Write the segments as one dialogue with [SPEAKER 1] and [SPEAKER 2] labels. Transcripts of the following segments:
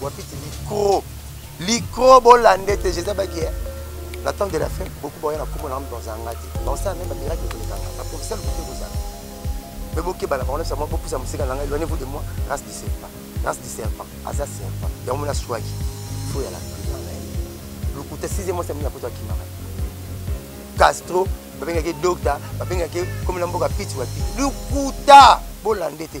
[SPEAKER 1] wapiti licro licro bolanda ete jésus abaki eh, la temps de la fin beaucoup baoya na nkombo na moto azanga te baosala meme bamiraki ekolekanga baprofeseur kote kozala me bokebala bango nyonso yango bopusa mosika na ngai éloignez vous de moi race du serpent race du serpent aza serpent yango mona swaki fo ya la prière na ye lokuta sixième mois samina poto akimaka castro babengaki docta babengaki komi na mboka piti wa piti lokuta bolanda ete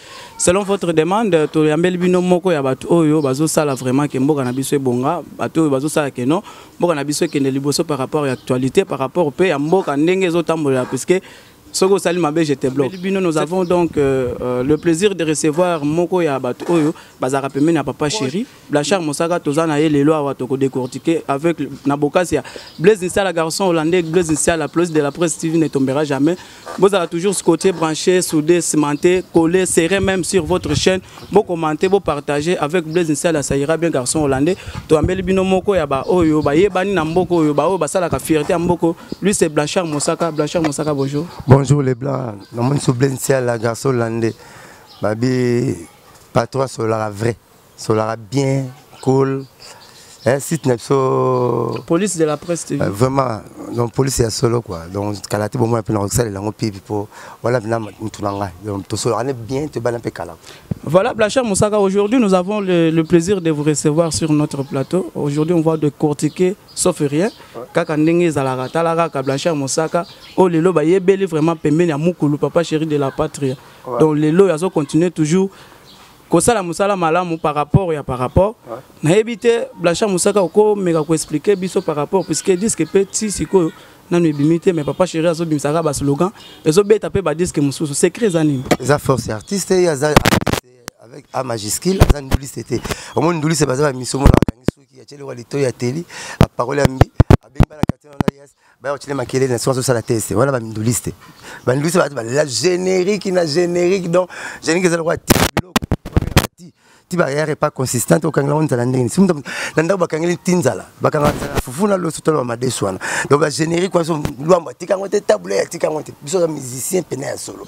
[SPEAKER 2] selon votre demande toyambeli bino moko ya bato oyo bazosala vraiment ke mboka na biso ebonga bato oyo bazosala ke non mboka na biso ekende liboso par rapport ya actualité par rapport mpe ya mboka ndenge ezotambolela puisque soki osali mabe je te bloque bino nous avons donc euh, euh, le plaisir de recevoir moko ya bato oyo bazalaka pembeni ya papa chéri Blanchard Mosaka toza na ye lelo awa toko décortiquer avec na bokasi ya Blaise Nsala garçon hollandais Blaise Nsala plus de la presse TV ne tombera jamais bozala toujours scotché branché soudé cimenté collé serré même sur votre chaîne bo commenter bo partager avec Blaise Nsala ça ira bien garçon hollandais to ambeli bino moko ya ba oyo ba yebani na mboko oyo ba oyo basala ka fierté ya mboko lui c'est Blanchard Mosaka Blanchard Mosaka bonjour bonjour les blancs
[SPEAKER 1] na moni so Blaise Nsala garçon hollandais babi patron solaka vrai Solara bien, cool. Eh, site na biso
[SPEAKER 2] police de la presse tv euh, vraiment donc
[SPEAKER 1] police ya solo quoi donc kala te bomona mpe na kosalela yango mpe mpo wana mpena motu na ngai donc tosolaka ne bien tobana mpe kala Voilà, Blachard
[SPEAKER 2] Moussaka, aujourd'hui nous avons le, le, plaisir de vous recevoir sur notre plateau. Aujourd'hui on va décortiquer, sauf rien, kaka ndenge zalara talara ka Blachard Moussaka, oh lelo ba yebeli vraiment pembeni ya mukulu papa chéri de la patrie. Donc lelo yazo continuer toujours kosala mosala malamu par rapport ya par rapport nayebi te blanchard mosaka okomeka koexplike biso par rapport puisque diske mpe ti sikoyo nanu ebimi te mais papa chéri azobimisaka baslogan ezobeta mpe badiske mosusu secret eza nini eza force ya artiste
[SPEAKER 1] ye aza avec a majuscule aza nduliste te omoni nduliste baza bamiso mona bakangi soki ya tyelekwa lito ya teli aparole ya mbi abengi bana katino na yes baya kotile makelele na soki azosala teste wana baminduliste banduliste bato balela générique na générique donc générique eza lokola ti biloko ti barrière epa consistante okangela ngo nzala ndenge nisi na ndako bakangeli ti nzala bakanga nzala fufu na loso toloba madesu wana donc bagénérique wana so lwambo atika yango te tabule atika yango te biso aza musicien pene ya solo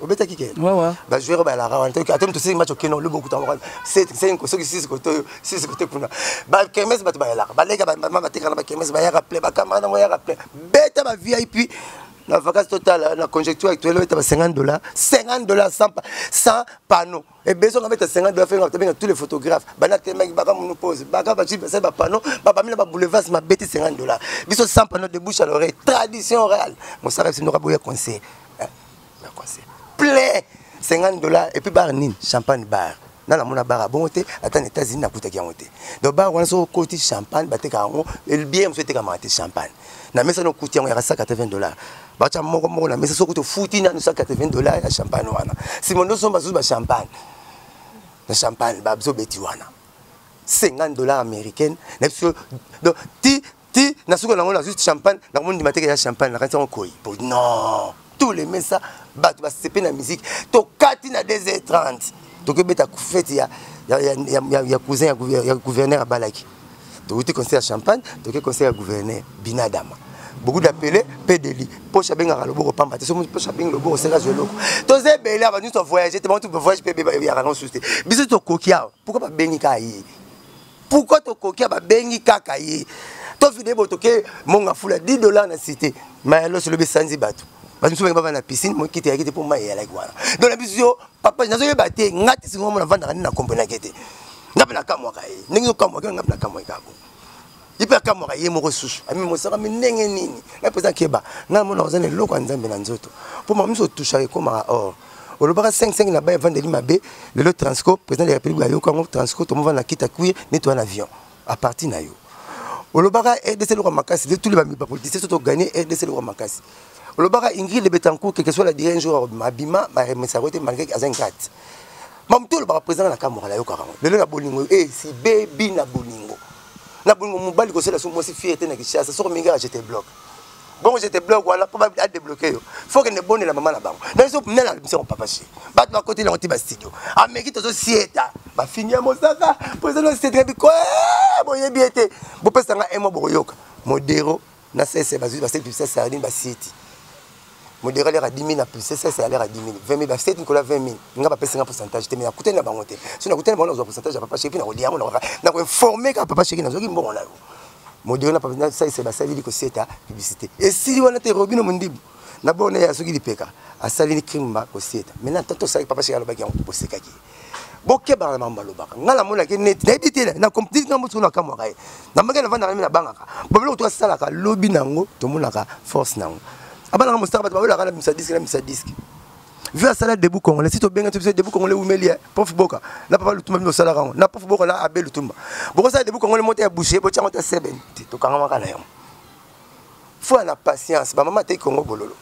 [SPEAKER 1] obetaki ke bajoueur
[SPEAKER 2] balalaka wana
[SPEAKER 1] ata moto sisi match okeno lobi okuta moko senko soki sisi kote oyo sisi kote kuna bakermese bato bayalaka baleka bamama batekaka na bakermese bayaka ple bakamara nango yaka ple beta ba vip na vacance totala na conjecture actuelle obeta ba 50 dollar 50 dollar sans panneau Et besoin de mettre 50 dollars, faire avec tous les photographes. Bana tellement ils baka mon pose. Baka ba chips, c'est ba panneau, ba ba mila ba boulevard, ma bête 50 dollars. Biso sans panneau de bouche à l'oreille. Tradition orale. Mon sarab c'est n'aura boya conseil. Eh, un conseil. Plein 50 dollars et puis bar nin, champagne bar. na namona bar ya bongo te ata na états-unis nakutaki yango te donc bar wana soki okoti champagne bateka yango bien mosusu etekamaka te champagne na mesa nokuti yango yaka 180 dollars batya moko moko na mesa soki tofuti nanu 180 dollars ya champagne wana nsima nde osomba susu bachampagne na champagne bazobeti wana 50 dollars américaine na biso donc ti ti na suka nango nazwi champagne nakomoni ndima teke ya champagne nakanisi yango koi po non tous les mesa bato basepe na musique tokati na 2h30 tokebeta fete ya, ya, ya, ya, ya cousin ya, ya gouverneur abalaki towuti conseil ya champagne toke conseil ya gouverneur binadama beaucoup d'appelés pedeli poche abengaka loboko pamba te so poche abengi loboko oseka zwa eloko toza ebele awa nyonso avoyage te bantu bavoyage mpe beyaka na mosusu te biso tokoki awa pourkui babengi kaka ye pourkui tokoki awa babengi kaka ye tofide bo toke monga fula 10 dollar na cité mayalos elobi esanzi bato bato mosusu bangi baba na piscine mokiti yaki te mpo mai eyalaki wana donc na biso papa nazo yeba te nga te singo mona vanda na comprendre ke te nga pe na kamwa ka ye ndenge zo kamwa ke nga pe na kamwa ka bo ipe kamwa ka ye moko susu ami mosaka mi ndenge nini nga pesa keba nga mona ozana eloko ya nzambe na nzoto po ma miso toucha ke koma or olobaka 55 na baye evandeli mabe lelo transco président de la république ayoka yango transco tomovanda na kita kuye netoya na avion à partir na yo olobaka rdc eloko makasi letuli bapolitisien soto gagne rdc eloko makasi olobaka ingrid de betancourt quelque soit la dire un jour abima baremesaka yo te malgré aza ngati mamutu olobaka président na kamora nayokaka yango lelo na bolingo e eh, si bebi na bolingo na bolingo mobali kosela so mwasi fiere te na kishasa soko mingi ajete bloke bongo je te bloque wana mpo adebloke yo fo kende bondela mama na bango na biso mela biso papa si bato bakoteli yango ti bastudio ameki tozosieta bafini ya mosaka mpo eza nosietaka biko eh, boyebi ye te bopesa nga emwa bokoyoka modero na sese bazwi basali pibisa sardine basieti modero alera 10 000 na pibisa sese alera 10 000 20 000 basieti nikola 20 000 nga bapesi nga pourcentage te me nakutani na bango te so nakutani na bango nazwa pourcentage ya papa sheki mpe nakolia yango nakoinforme kaka papa sheki nazwaki mbongo na yo modere na papina salisa basali liko seta publicité esili wana te robino mondibu na bona ya soki lipeka asali ni crime ba koseta maintenant tanto sali papa chez alobaki yango bosekaki bokebaka na bango balobaka ngai namonaki neti nayebi te na comptis na mosuku nakamwaka ye na mbaki navandaka mi nabangaka babiloko to asalaka lobi na yango tomonaka force na yango abanaka mosaka bato baolaka na misa diske na misa diske Vu à salaire debout congolais, si tu bien tu debout congolais ou melier, prof boka, n'a pas le tout même salaire on, n'a prof boka là abel le tout. Boko ça debout congolais monter à boucher, bo tiens ta seben, tu to kanga makana yo. Faut la patience, ba maman te Congo bololo.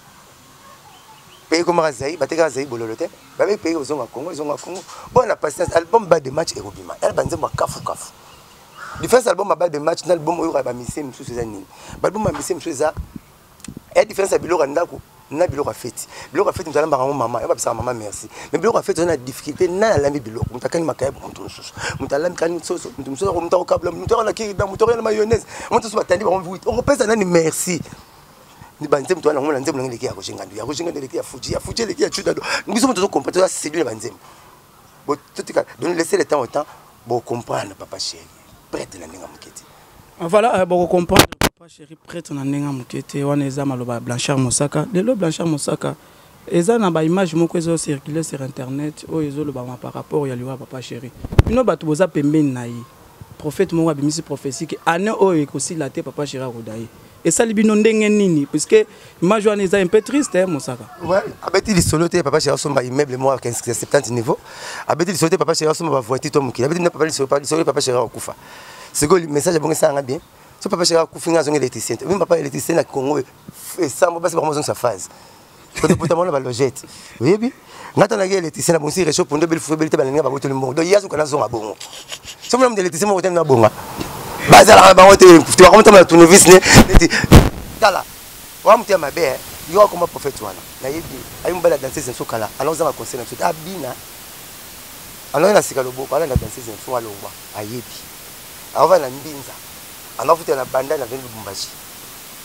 [SPEAKER 1] Pays comme Azaï, ba te ka Azaï bololo te. Ba be pays aux Congo, ils ont Congo. Bon la patience, album bas de match et Robima. Elle banze moi kafu kafu. Defense album bas de match, album oyo ba mise mususu za nini. Ba album ba mise mususu za ya différence ya biloko ya ndako na biloko ya feti biloko ya feti moto alambaka yango mama yo babisaka mama merci mais biloko ya feti oza na difficulté nani alambi biloko moto akani makayabo moto mosusu moto alambi kani soso moto mosusu ako moto akokabla moto ako na kirida moto ako na mayonnaise moto mosusu batandi bango vite okopesa nani merci banzembo towana yango na nzembo nange eleki ya kojengando ya kojengando eleki ya fuji ya fuji eleki ya cudado biso moto tozokompa toza sedule banzembo totika donc laisse le temps au temps bocomprendre papa chéri prêtre na ndenge moke te ah, voilà euh, boko
[SPEAKER 2] comprendre papa chéri prêtre na ndenge moke te wana eza maloba ya blanchard mosaka lelo blanchard mosaka eza na baimage moko ezo circule sur internet oyo ezolobama par rapport ya liwa papa chéri bino bato boza pembeni na ye prophète moko abimisi prophétie ke année oyo ekosila te papa chéri akoda ye esali bino ndenge nini puisque image wana eza un peu triste eh, mosaka abeti
[SPEAKER 1] lisolo te papa chéri asomba immeuble moko ya 70 niveau abeti lisolo te papa chéri asomba bavoiture to mokili abeti na papa lisolo lisolo papa chéri akufa sikoyo message abongi esala nga bien so papa chéri akufi nga azongi électricien te mimi papa électricien na congo esambo basi bango bazongisa phase todepota mwana balogete oyebi nga to naki électricien na bonsi réchaud pondo beli fue beli te balinga bango toli mbongo donc ye azoka nazonga bongo so mona moto électricien moko te na bonga bazalaka na bango te te bakomotama na tournevis ne neti tala oa moto ya mabe eh. yo akoma prophète wana nayebi ayi mobali ya danseuse na biso kala ana ozanga conseil na biso te abina anoi na sika loboko alanda danseuse na biso alongwa ayebi aovanda na mbinza anafuta na banda na veni lubumbashi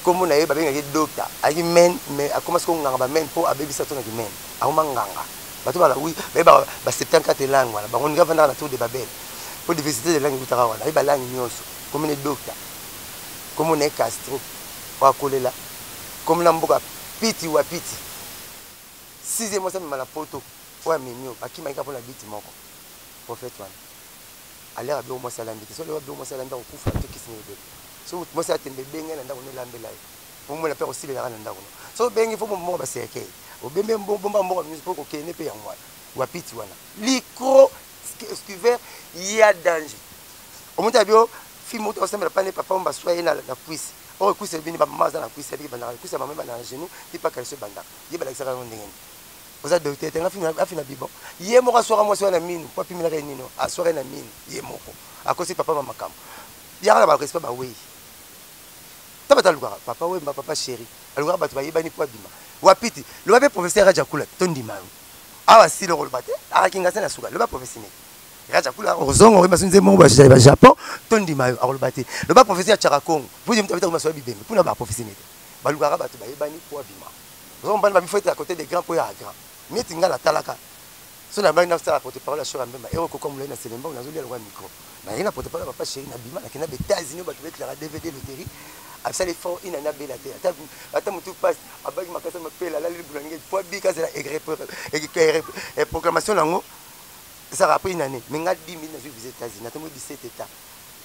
[SPEAKER 1] kombo na ye babengaki ye docta ayaki men mais akoma siko nganga bamen mpo abebisa to na kimen akoma nganga bato balawi baye ba 74 langue wana bango nika vandaka na tour de babel mpo diversité de langue ekutaka wana aye balangue nyonso kombo na ye docta kombo na ye castro oyo akolela kombo na mboka piti wa piti sixième mwasi amema na poto oyo amemi oyo bakimaki kaka mpo na biti moko prophète wana aller abio mwasi alandi te solo abio mwasi alanda kokufa te kisi ne bebe so mutu mwasi atembe benga na ndako ne lambela ye po mona pe kosilela na ndako so bengi fo bomba ba cercueil obembe bomba mboka nyonso po kokende pe yango wana wapiti wana licro scuver ya danger omonte abio fi moto osambela pane papa omba swa ye na cuisse oyo cuisse ebini bamama aza na cuisse ebiki bandaka cuisse ya mama ebanda na genou ti pa kalisi ebandaka ye balakisaka yango ndenge nini oza docteur te nga afina bibon ye moko aswaka mwasi wana minu mpo apimelaka ye nino aswaka ye na minu ye moko akosi papa ma makambo yaka na barespect bawei ta bato alukaka papa wemba papa sheri alukaka bato bayebani mpo abima wapiti loba mpe professeur rajakula tondima yo awa sila okoloba te akakinga se na suka loba professeur nini rajakula okozonga okoyeba so nze moko bazali ba japon tondima yo akoloba te loba professeur ya chaka congo mpo ye moto abetaka masoya bibembe mpona baprofesseur nini te balukaka bato bayebani mpo abima Oza mobali ba bifo ete à côté des grands poya grand. Neti nga na talaka. So na bali na sala porte parole ya Shora Mbemba. Ero koko mulai na Selemba na zolia lokola micro. Na yena porte parole papa chéri na bima na kenda be États-Unis ba kibé clara DVD loterie. Absali fort ina na bela te. Ata ata mutu passe abaki makasa mapela la libu na ngai. Poa bi kaza la egre et programmation na ngo. Saka après une année. Mais nga 2000 na zo visite États-Unis. Na tomo 17 états.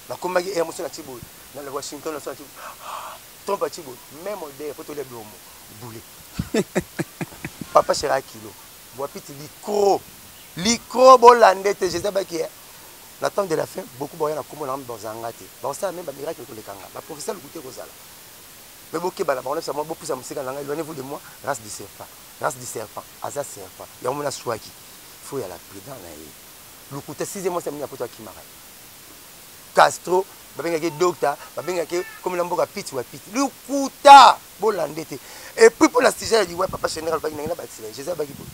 [SPEAKER 1] Na komaki Air Mosso na Chibo. Na Washington na so na Chibo. Trump atie boye meme odeur po tolia biombo bule papa chera kilo buapiti likro likro bolande te jesus abaki eh. na temps de la fin beaucoup baoya na kombo na ngambi bazanga te bakosala meme bamiracle koleka nga baprofesa lokuta ekozala me bokeba na bango na bisa mwa bopusa mosika na ngai eloigne vous de moi race du serpent race du serpent aza serpent yango mona swaki faut ya la prudent na ye lokuta sixième mwasi ya mini ya poto akimaka Castro babengaki ye docta babengaki ye komi na mboka piti wa piti lokuta bolande te epuis mpo na sujet ya liwa papa shenera alobaki nange na bakisi na ye jesus abaki boye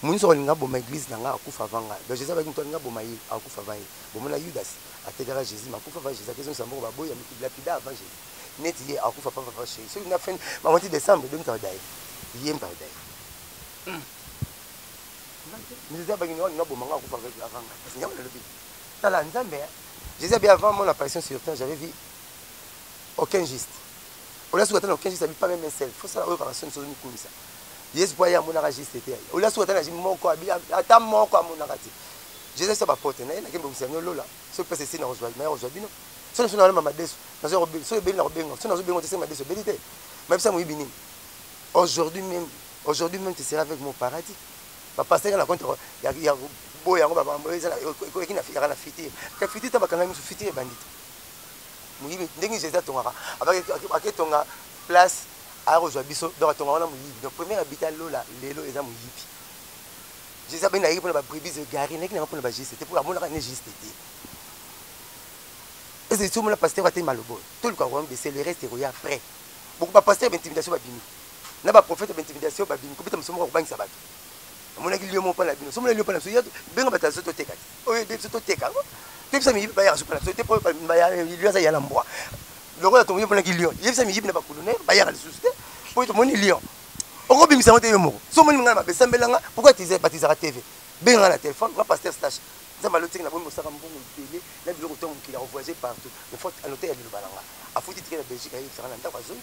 [SPEAKER 1] moninso alinga aboma eglise na ngai akufa avant ngai donc jesus abaki moto alinga aboma ye akufa avant ye bomona yudas atekaka jesus ma akufa avant jesus akezongisa mboko baboyi ya lapida avant jesus neti ye akufa papa papa sheri soki na fin bamati décembre 2000 ye mpadaye Nzambe abangi ngai na bomanga akufa avec avant ngai parce que ngai nalobi tala Nzambe hein Jésus abi avant mon apparition sur terre j'avais vu aucun juste olia suka tana aucun juste abi pas même un seul faut ça oyo kaka soni soni kumisa Yesu po ya monaka juste te olia suka tana moko abi ata moko amonaka te Jésus sa ba porte na ye na kembe kumisa no lola so pesa esi na kozwa na ye kozwa bino so na so na mama desu na so ko so ebeli na ko benga so na so benga te se ma desu ebeli te ma bisa moyibi nini aujourd'hui même Aujourd'hui meme tu seras avec moi au paradis. Ba pasteur nga na compte ya ya boya yango ba mambo eza ekoleki na fiyaka na futur. Ka futur ta bakanga musu futur ebandi te. Muyibi ndenge Jésus atongaka abaki aketonga place akozwa biso donc atonga wana moyibi donc premier abita lola lelo eza moyibi jesus abeni nayeki mpona babrebis egare nayeki nanga mpona bajuste te mpo amonaka ne juste te ese somona pasteur atei maloba oyo toluka koyambe se le reste ekoya après boko bapaster ya baintimidation babimi na ba prophète ba intimidation ba bimi kobeta musomo ko bangisa bato amonaki lion moko pala bino somo lion pala biso benga bato azo toteka te oyo ebe biso toteka yango tebisa miyibi bayaka so pala biso te po lion aza yala mbwa lokola tongo emonaki lion yebisa miyibi na bakulune bayaka lisusu te po tomoni lion okobimisa yango te yo moko so omoni ngai mabe sambela nga pourkoi batizaka tv benga nga na telefone nga paster stache nzambe alotiki na bomi mosaka mbongo ebele na biloko to mokili akovoyage partout mais faut anote ya liloba na nga afuti tike na belgique ayebisaka na ndako azongi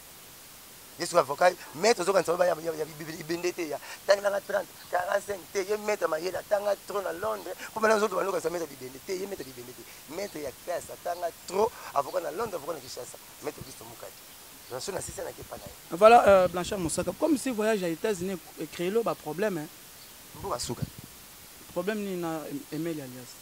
[SPEAKER 1] yesu avocat maître ozokanisa oyo ya bibende te ya tangelanga 30 45 te ye maître mayele atanga trop na londres mpo mana ozoto bando okanisa maître bibende te ye maître bibende te maître ya classe atanga trop avocat na londres avocat na kinshasa maître augusto mukadi naso na sisa nake epa na ye voilà
[SPEAKER 2] euh, blanchard mosaka comme si voyage ya états-unis créelo baproblème mboka suka problème nini na emeli alias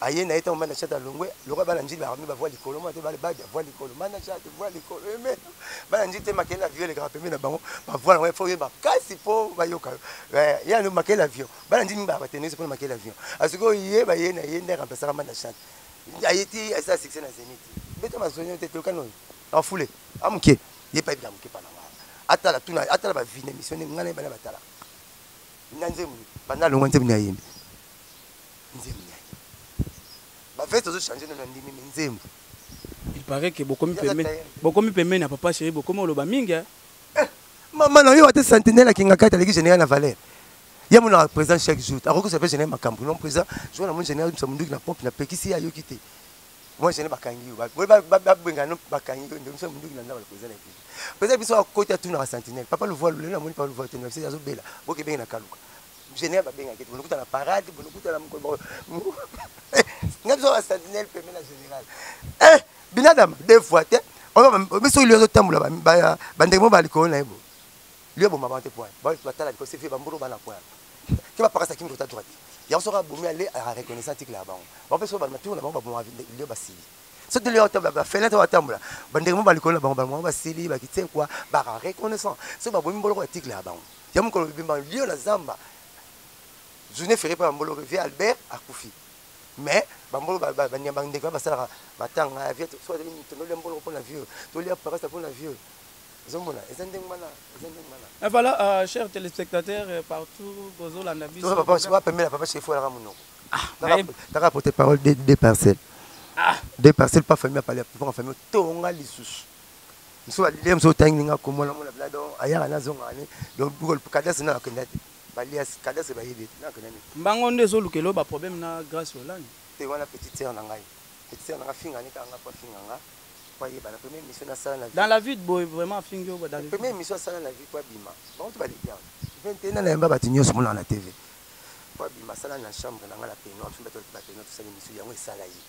[SPEAKER 1] aye na ye ntango mana chat alongwe lokola bana njili bakomi bavua likolo mwana te bale bade avua likolo mana chat vua likolo eme bana njili te makele avio elekaka pembe na bango bavua nango fo oyeba kasi mpo bayoka yo eh, yano makele avio bana njili mibaa batenisi mpona makele avio asikoyo ah, ye baye na ye nde akampesaka mana chat aye ti asala succès na zenit beta mazonio te tolokani oyo afule amoke ye payebi na moke pana wana atala tuna atala bavine émission nde ngai na ye bana batala na nzembo banda alongwa nzembo nde ayembi nzembo ya ye ba veste ozo changer na ndimi mais nzembo il
[SPEAKER 2] paraît que bokomi pembeni bokomi pembeni ya papa chéri bokomi oloba mingi hein eh, mama
[SPEAKER 1] na yo ate sentinelle akinga kati aleki général na valeur ye mona président chaque jour akokisa mpe général makambo non président jour na moni général misa monduki na pompe na pekisi ye ayoki te moi général bakangi yo babengana bakangi yo nde misa monduki na ndaba président na ekipe président biso akoti atunaka sentinelle papa luvua lelo na moni papa luvua te na biso azobela bokebenge na kaluka General babengaki te bonokuta na parade bonokuta na mokolo nga biso ba sentinelle pembe na general eh binadama deux fois te biso lio azotambola bandenge mo balikolo na ye bo lio aboma bango te poin batala likolo sefi bambolo bana poin ke bapakasa kimi kota droite yango soki abomi ale areconnaissant tikila ya bango bango mpe soki bamatour na bango baboma lio basili soki lio atambola bafenêtre batambola bandenge mo balikolo na bango bango basili bakitie kwa baka reconnaissant soki babomi mboloko ya tikila ya bango ya mokolo bibemba lio na zamba journée ferre mpe bambolo vie albert akufi mais bambolo banyamba ndeko ya basalaka matanga ya vie so azali moto nolia mbolo mpo na vieux tolia parasa mpo na vieux ozomona eza ndenge wana eza
[SPEAKER 2] ndenge wana et voilà euh, cher téléspectateur euh, partout bozolanda biso papa wa pembela papa chef
[SPEAKER 1] olaka monoko taka ah, porte parole de deux parcelles ah. deux parcelles pas famille apale papa famille tonga lisusu muso alilia muso tangi nga kombo na mona bla donc ayaka na zonga ne donc bukol kadase na akenda te balia kadase bayebi te na akenda ne mbango nde
[SPEAKER 2] ezoluka elo ba problème na Grace Olani te wana petite sœur na
[SPEAKER 1] ngai petite sœur na nga finga ne kanga pa finga nga pa yeba na première mission na sala na vie dans la vie boy
[SPEAKER 2] vraiment fingi yo dans la première mission
[SPEAKER 1] sala na vie pa bima bango to balilia 21 ans na yamba batu nyonso mona na TV pa bima sala na chambre na nga na peignoir mpe bato ba peignoir tosali mission yango esala ye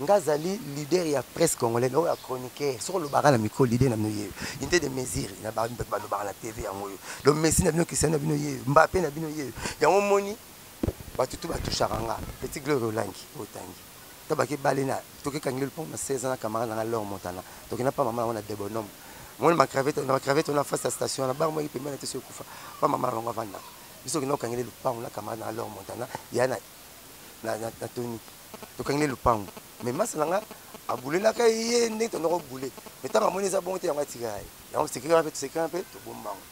[SPEAKER 1] Nga zali leader ya presse congolais na oya chroniqueur soko lobaka na micro leader na bino yeyo unite de mesure na ba ba lobaka na TV yango yo donc Messi na bino Cristiano na bino yeyo Mbappe na bino yeyo yango moni bato tout ba touchaka nga petit gloire olangi otangi tabaki bale na toki kangile pont na 16 ans na camarade na nga Laure Montana toki na pa mama na nga na Debonom moni ma cravate na cravate na face ya station na bar moi pembe na teso kufa pa mama na nga vanda biso kina kangile lupango na camarade na Laure Montana ya na na na, na Tony tokangi ne lupangu mais masa na nga abulelaka ye ndenge tondoko bule mais ntango amoni eza bongo te yango atikaka ye yango sekiraka mpe tosekiraka mpe tobombango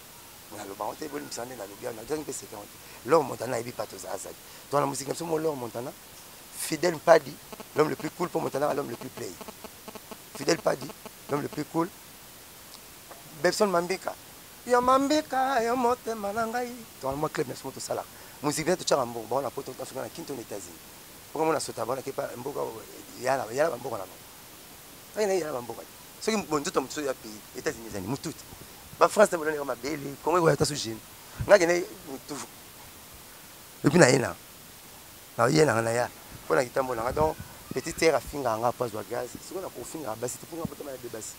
[SPEAKER 1] mais naloba yango te bolimbisa nde nalobi yango nagangi mpe sekiraka te lor montana ayebi mpa toza azali to wana mosika biso mo lor montana fidèle mpadi l'homme le plus cool mpo montanaka l'homme le plus play fidèle mpadi l'homme le plus cool bebson mambika yo mambika yo motema na ngai to wana mwa club na biso mo tosalaka mosika totyaka mbongo bango na poto ntansoki na kinto na états-unis Mboka mona sota bona ke pa mboka yala yala ba mboka na bango. Saki na yala ba mboka. Soki bonzoto mosusu ya pays États-Unis ezali mututi. Ba France na bolani ba mabele, Congo ekoya tasu jeune. Ngaki na mutu. Et puis na yena. Na yena na ya. Pona kitambo na nga donc petite sœur afinga nga po azwa gaz. Siko na kofinga basi te po nga botama na bebasi.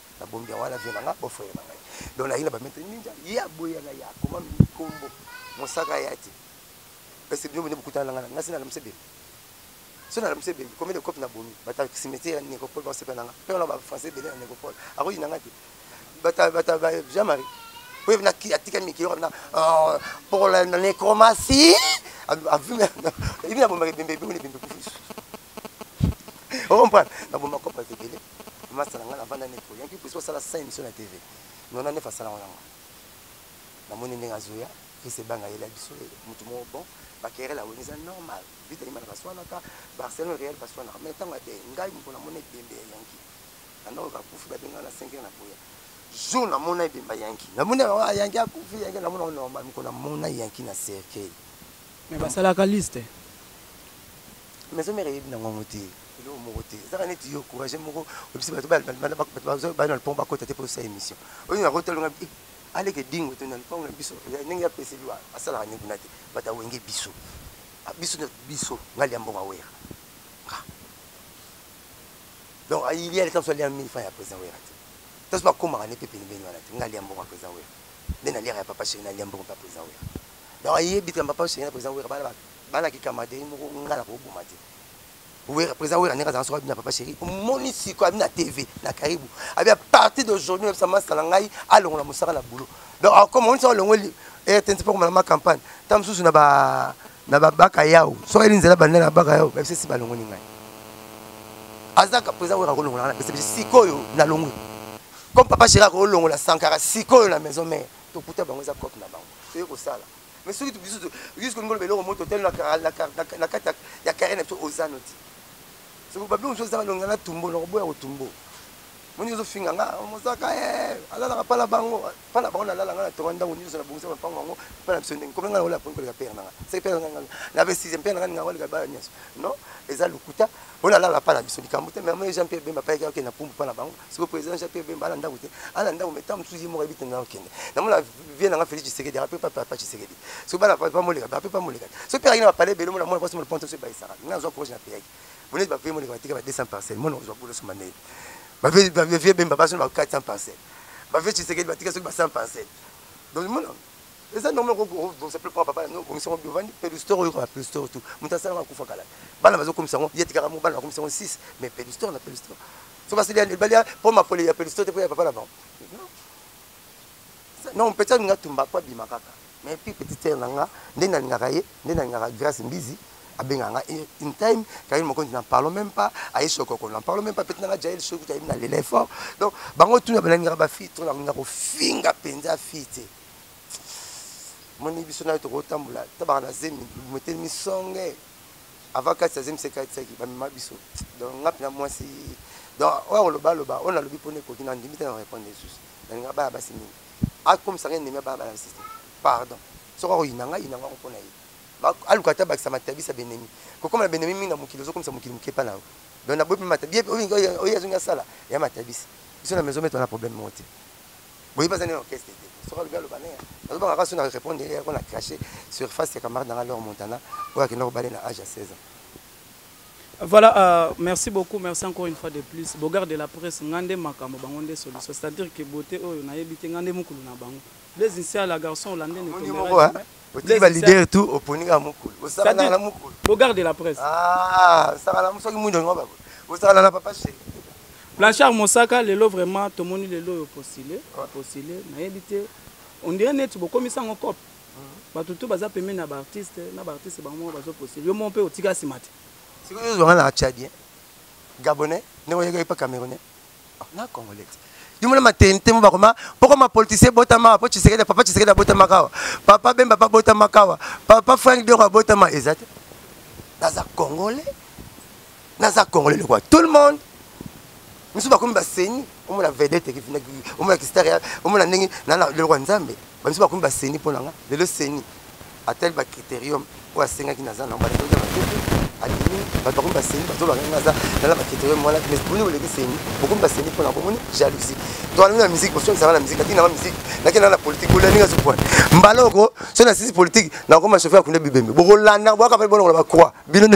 [SPEAKER 1] na bombi ya wana vie na nga bo frère na ngai donc na yina ba maître ninja ya boya na ya koma mikombo mosaka ya ti parce que bino bino bokutana na nga na sina na msebe sina na msebe combien de cop na bomi bata cimetière ya nécropole ba sepela nga pe na ba français belé na nécropole akoyi na nga ti bata bata ba Jean Marie po na ki atika miki yo na oh, pour la nécromatie a vu na ibi na bomba bembe bembe bembe okomprendre naboma kopa ebele masala ngai navanda neti oyanki pusi osala sa émission na tv nona nef asala ngo nango namoni ndenge azoya fils ebanga yela biso motu moko bon bakerela wenge eza normal vita yima na baswanaka barcelone real baswanaka mai ntango adeyi ngai mpo namona ebembe ya yanki bandako kakufi babenga na 5 na boya jour namona ebemba yanki namoni ah, yanki akufi yanki namona ngo normal mokolo namona yanki na
[SPEAKER 2] cercueil
[SPEAKER 1] mais basalaka
[SPEAKER 2] liste
[SPEAKER 1] Maison mère eyebi na ngongo te eloko moko te ezaka neti yo courage moko obisi bato bana na lopango bakota te mpo osa émission oyo nakota longa eh, aleke dingo to na lopango na biso ndenge ya pese liwa asalaka nde kuna te bato awenge biso ah, biso na biso ngai lia mbongo awera nga donc ayilia ah, leta mosu alia mille franc ya président wera te taso bakomaka nde mpe penepeni wana te ngai lia mbongo ya président wera nde naliaka ya papa sheri nalia mbongo mpe ya président wera donc ayebi te ya papa sheri na président wera bana Bana ki camaderi moko nga na ko boma te. Wera president wera ndenge azanga soki abina papa chéri omoni siko abina TV na Karibu abi à partir d'aujourd'hui na bisa masta na ngai alongola mosaka na boulot donc akoma omoni soki alongoli RTNC mpo komala ma campagne ta mosusu na ba na babaka yao soki ayeli nzela banda na baka yao babisa si balongoli ngai azaka president wera akolongola ngai na pesa biso sikoyo nalongwe comme papa chéri akolongola sankara sikoyo na maison mère tokuta bango eza cope na bango toye kosala mais soki biso biso koloba eloko moko totali na kati ya carrière na biso oza noti soki babi mosusu ezanga longa na tumbo na koboya kotumbo moni ozofinga nga mosaka eh, alalaka mpa na bango mpa na bango nalala nga na tonga ndako nyonso nabongisa mapango yango mpa na biso ndenge komi nga naola poni koleka pere nanga seke pere nanga na ve sixième pere nanga ninga koleka bana nyonso non eza lokuta oyo nalala mpa na biso likambo te mama jean pierre bemba payaki oke na pumbu mpa na bango siko président jean pierre bemba ana ndako te ana ndako mais ntango mosusu ye moko ayebi te ntango kende namona vie nanga félix tshisekedi ape pa papa tshisekedi soki bana pa moleka bape pa moleka soki mpe akende bapale ebele mona mwana mwasi mona ponto soki bayisaka nga nazwa courage na peyaki boneti bavie moleka batika ba 200 parcelle mwana ozwa bolo soma ndenge bavie bemba baso na ba 400 parcelle bavie tshisekedi batika soki ba 100 parcelle donc mona eza normal kobongisa mpe mpo bana obongisa yango biovandi pelustore oyoka ba pelustore tout moto asalaka akufa kala bana bazokomisa yango ye tikaka mo bana bakomisa yango 6 mais pelustore na pelustore Soki asili ya balia po makole ya pelisto te po ya papa na bango. Non, petit alinga tumba kwa bima kaka. Mais puis petit sœur na nga, nde nalingaka ye, nde nalingaka Grace Mbizi. abenga nga une time kayini mokonzi na parlons même pas aye sokoko na parlons même pas peut-être nanga jael soki tayebi na lele fort donc bango tuna balingaka bafille to nakolinga kofinga mpenza fille te moni biso nayo tokotambola tabaka na zemi motelemi songe avant kasi azemisa katisaki bamema biso donc nga mpena mwasi donc oyo akoloba aloba oyo nalobi mpona ekoki na ndimi te na répondre lisusu nalinga baya basi mingi akomisaka endemi ya baya bana basi te pardon soki akoyina nga yina ngako mpona ye aluka ata bakisa matabisa benemi kokoma na benemi mingi na mokili ozokomisa mokili moke epa na yo donc naboyi mpe matabi oyo azongi asala ya matabisa biso na maison meto na problème moko te boye baza ne orchestre te soki alobi aloba ne azobanga kaka so na répondre ye yako na crache surface ya camarade nanga lor montana oyo akenda kobale na age ya 16 ans Voilà, euh,
[SPEAKER 2] merci beaucoup, merci encore une fois de plus. Bogard de la presse, ngande makambo bango nde solution. C'est-à-dire que beauté oyo na yebite ngande mukulu na bango. Les initiales la garçon hollandais ne tomberait jamais. otiki ba leader tout
[SPEAKER 1] oponi kaka mukulu osala kaka na mukulu bogar de la presse
[SPEAKER 2] ah osala na
[SPEAKER 1] soki mundo ngo bako osala na papa chéri blanchard
[SPEAKER 2] mosaka lelo vraiment tomoni lelo oyo postule postule nayebi te on dirait neti bokomisa ngo cope bato tu baza pembeni na baartiste na baartiste bango moko bazo postule yo moko mpe otika nsima te sikoyo ozwanga
[SPEAKER 1] na chadien gabonais ndenge oyekaki mpe camerounais na congolais dimona matente mo bakoma poko mapolitisien botama po tshisekedi papa tshisekedi abotamaka awa papa bemba pa botamaka awa papa frank diongo abotama eza te naza congolais naza congolais lokwa tout le monde misusu bakomi baseni omona vedete omona kistar omona ndenge lelokwa nzambe bamisu bakomi baseni mpo na nga lelo seni atali bacriterium oyo asengaki naza nango bato baza bakete adimi bato bakomi baseni bazolaka nga aza nala bacriterium wana mais boni oleki seni bokomi baseni mpo na bomoni jalousie toalami na musique bosongisaka na musique atina ba musique nakenda na politique bolani nga sukwana mbala oko so na sisi politique nakoma chauffeur akunda bibembe bokolanda bwaka mpe bolongola bacroix bino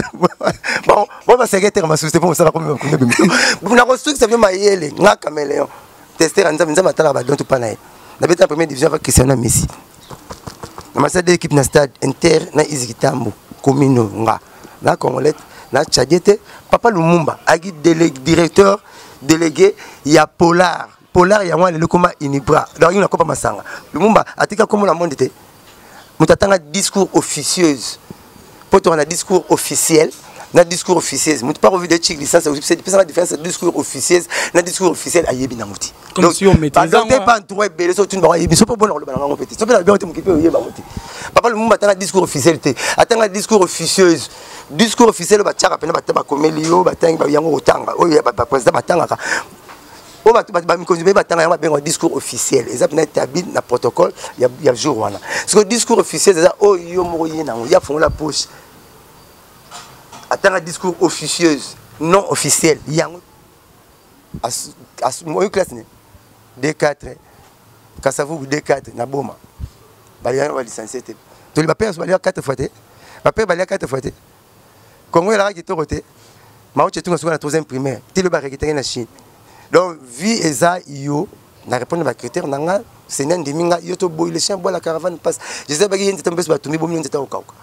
[SPEAKER 1] bo baseketeka masusi te mpo mosala komi bakunda bibembe nakosukisa bino mayele nga cameleon tester ya nzambe nzambe atalaka badon topa na ye nabeta na première division ava christiano ya messi na masala de équipe na stade inter na iziki tambo komino nga na congolais na tchadie te papa lumumba ayaki directeur délégué ya polar polar yango aleli ekoma unibra donc yango nakopa masanga lumumba atika komona monde te moto atanga discours officieuse mpo tokana discours officiel na discours officieuse moto mpa kovide ci licence epesaka différence discours officieuse na discours officiel ayebi nango te
[SPEAKER 2] te pantour ebele so
[SPEAKER 1] otuni bango ayebi so mpo bona koloba na bango mpe te so mpe na biango te mokipe oyeba bango te papa lumumba atanga discours officiel te atanga discours officieuse discours officiel oyo batiaka mpena bakomeli yo batangi yango kotanga oyo baprésident batangaka oyo bato bamikonzi mpe batanga yango babengaka discours officiel eza mpena établi na protocole ya, ya jour wana siko discours officiel eza oyo oh, yo moko ye nango ye afongola poche atanga discours officieuse non officiel yango oyo classe ne d4 kasavubu d4 na boma balingana balicencie te toli bapere so balia 4 fois te bapere balia 4 fois te Congo elaka kitoko te Mao Tse Tung asukana troisième primaire ti lobi arekitaki na Chine donc vie eza yo na répondre ba critère na nga Seigneur ndimi nga yo toboyi le chien boit la caravane passe je sais baki ye nzete mpeso batumbi bomi yo nzete okauka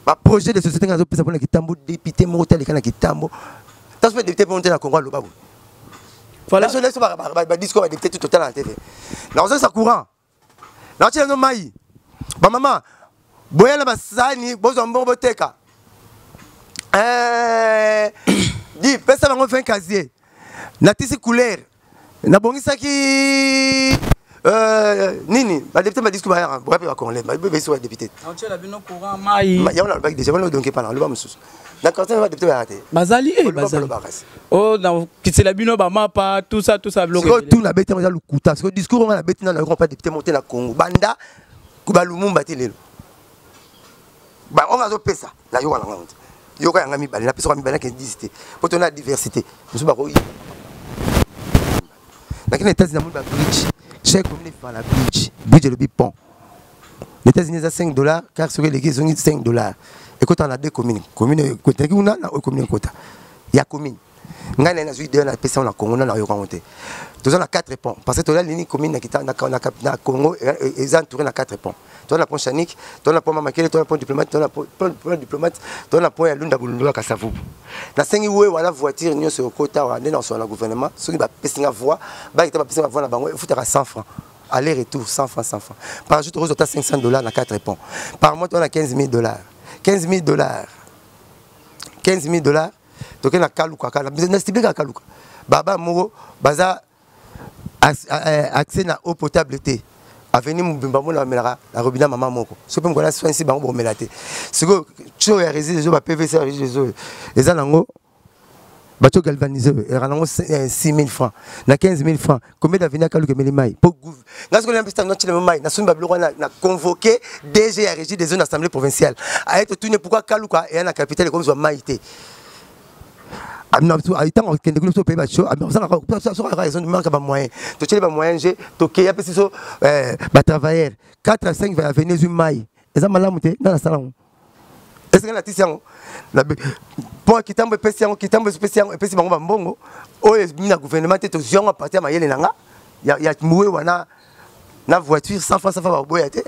[SPEAKER 1] ba projet de société nga azopesa mpona kitambo député moko te aleka na kitambo taso mpe député mpo te na congo aloba boye voilà so leso badiscours badepute tout total na tv nakozalisa courant nakotyela bino mai bamama boya na basani bozwa mbongo boteka eh, di pesa bango 20 casier natisi couleur nabongisaki euh, nini badepute badisku bayaka boya mpe bacongolais bebesi wa depute
[SPEAKER 2] yango nalobaki deja wana
[SPEAKER 1] odonke pana loba mosusu na quartier ba député ba te bazali eh bazali
[SPEAKER 2] oh na kitela bino ba mapa tout ça tout ça biloko tout na beti na lukuta
[SPEAKER 1] parce que discours on a beti na na pas député monté na Congo banda ku ba lumumba te lelo ba on azo pesa na yo wana ngonte yo ka yanga mibale na pesa mibale ke 10 te poto na diversité musuba ko nake na états-unis namoni babridge soki ekomi na efala bridge bridge elobi pont na états-unis eza 5 dollars car soki eleki ezongi 5 dollars ekota na deux commune commune ekotelaki kuna na oyo commune ekota ya commune ngai naye nazwi idee napesa na congo nana oyoka yango te toza na 4 pont parce que toza lini commune na congo eza entouré na 4 pont toza na pont chanique toza na pont mamakele toza na pont diplomate toza na pont diplomate toza na pont ya lunda bolundula kasavubu nasengi we wana voiture nyonso ekota awa nde nakosola na gouvernement soki bapesi nga voix bakita bapesi nga voix na bango efutaka 100 francs aller retour 100 francs 100 francs par jour tokozwa ata 500 dollars na 4 pont par mois toza na 15 000 dollars 15 000 dollars 15 000 dollars tokei na kaluka kaka na stiblikaka kaluka baba moko baza eh, accès na eau potable te avenue mobimba mona bamelaka na robina mama moko soki mpe mokona soinsi bango bakomela te sikoyo tio ya rési ezo ba pvc ya rési ezo eza nango bato galvanise oyo elaka nango 6000 eh, francs na 15000 francs combien d'avenir akaluka emeli mai mpo nga soki nampesi tango natyelemo mai nasombi babiloko wana na convoqué dg ya régie des zones assemblée provinciale aye totuni pourkui akaluka eya na capitale ekomizwa mai te ntango akende kuna biso toyebi baso azosala kaka ezo manka bamoyen totyeli bamoyen je tokeya mpe siso batravailleur 4 à 5 va ya veni ezwi mai eza malamu te nga nasala yango esika natisi yango mpo kitambo epesi yango kitambo epesi yango epesi bango bambongo oyo ebimi na gouvernement te tozwi yango apartir ya mayele na nga ya muwe wana na voiture 100 francs 100 francs baboya te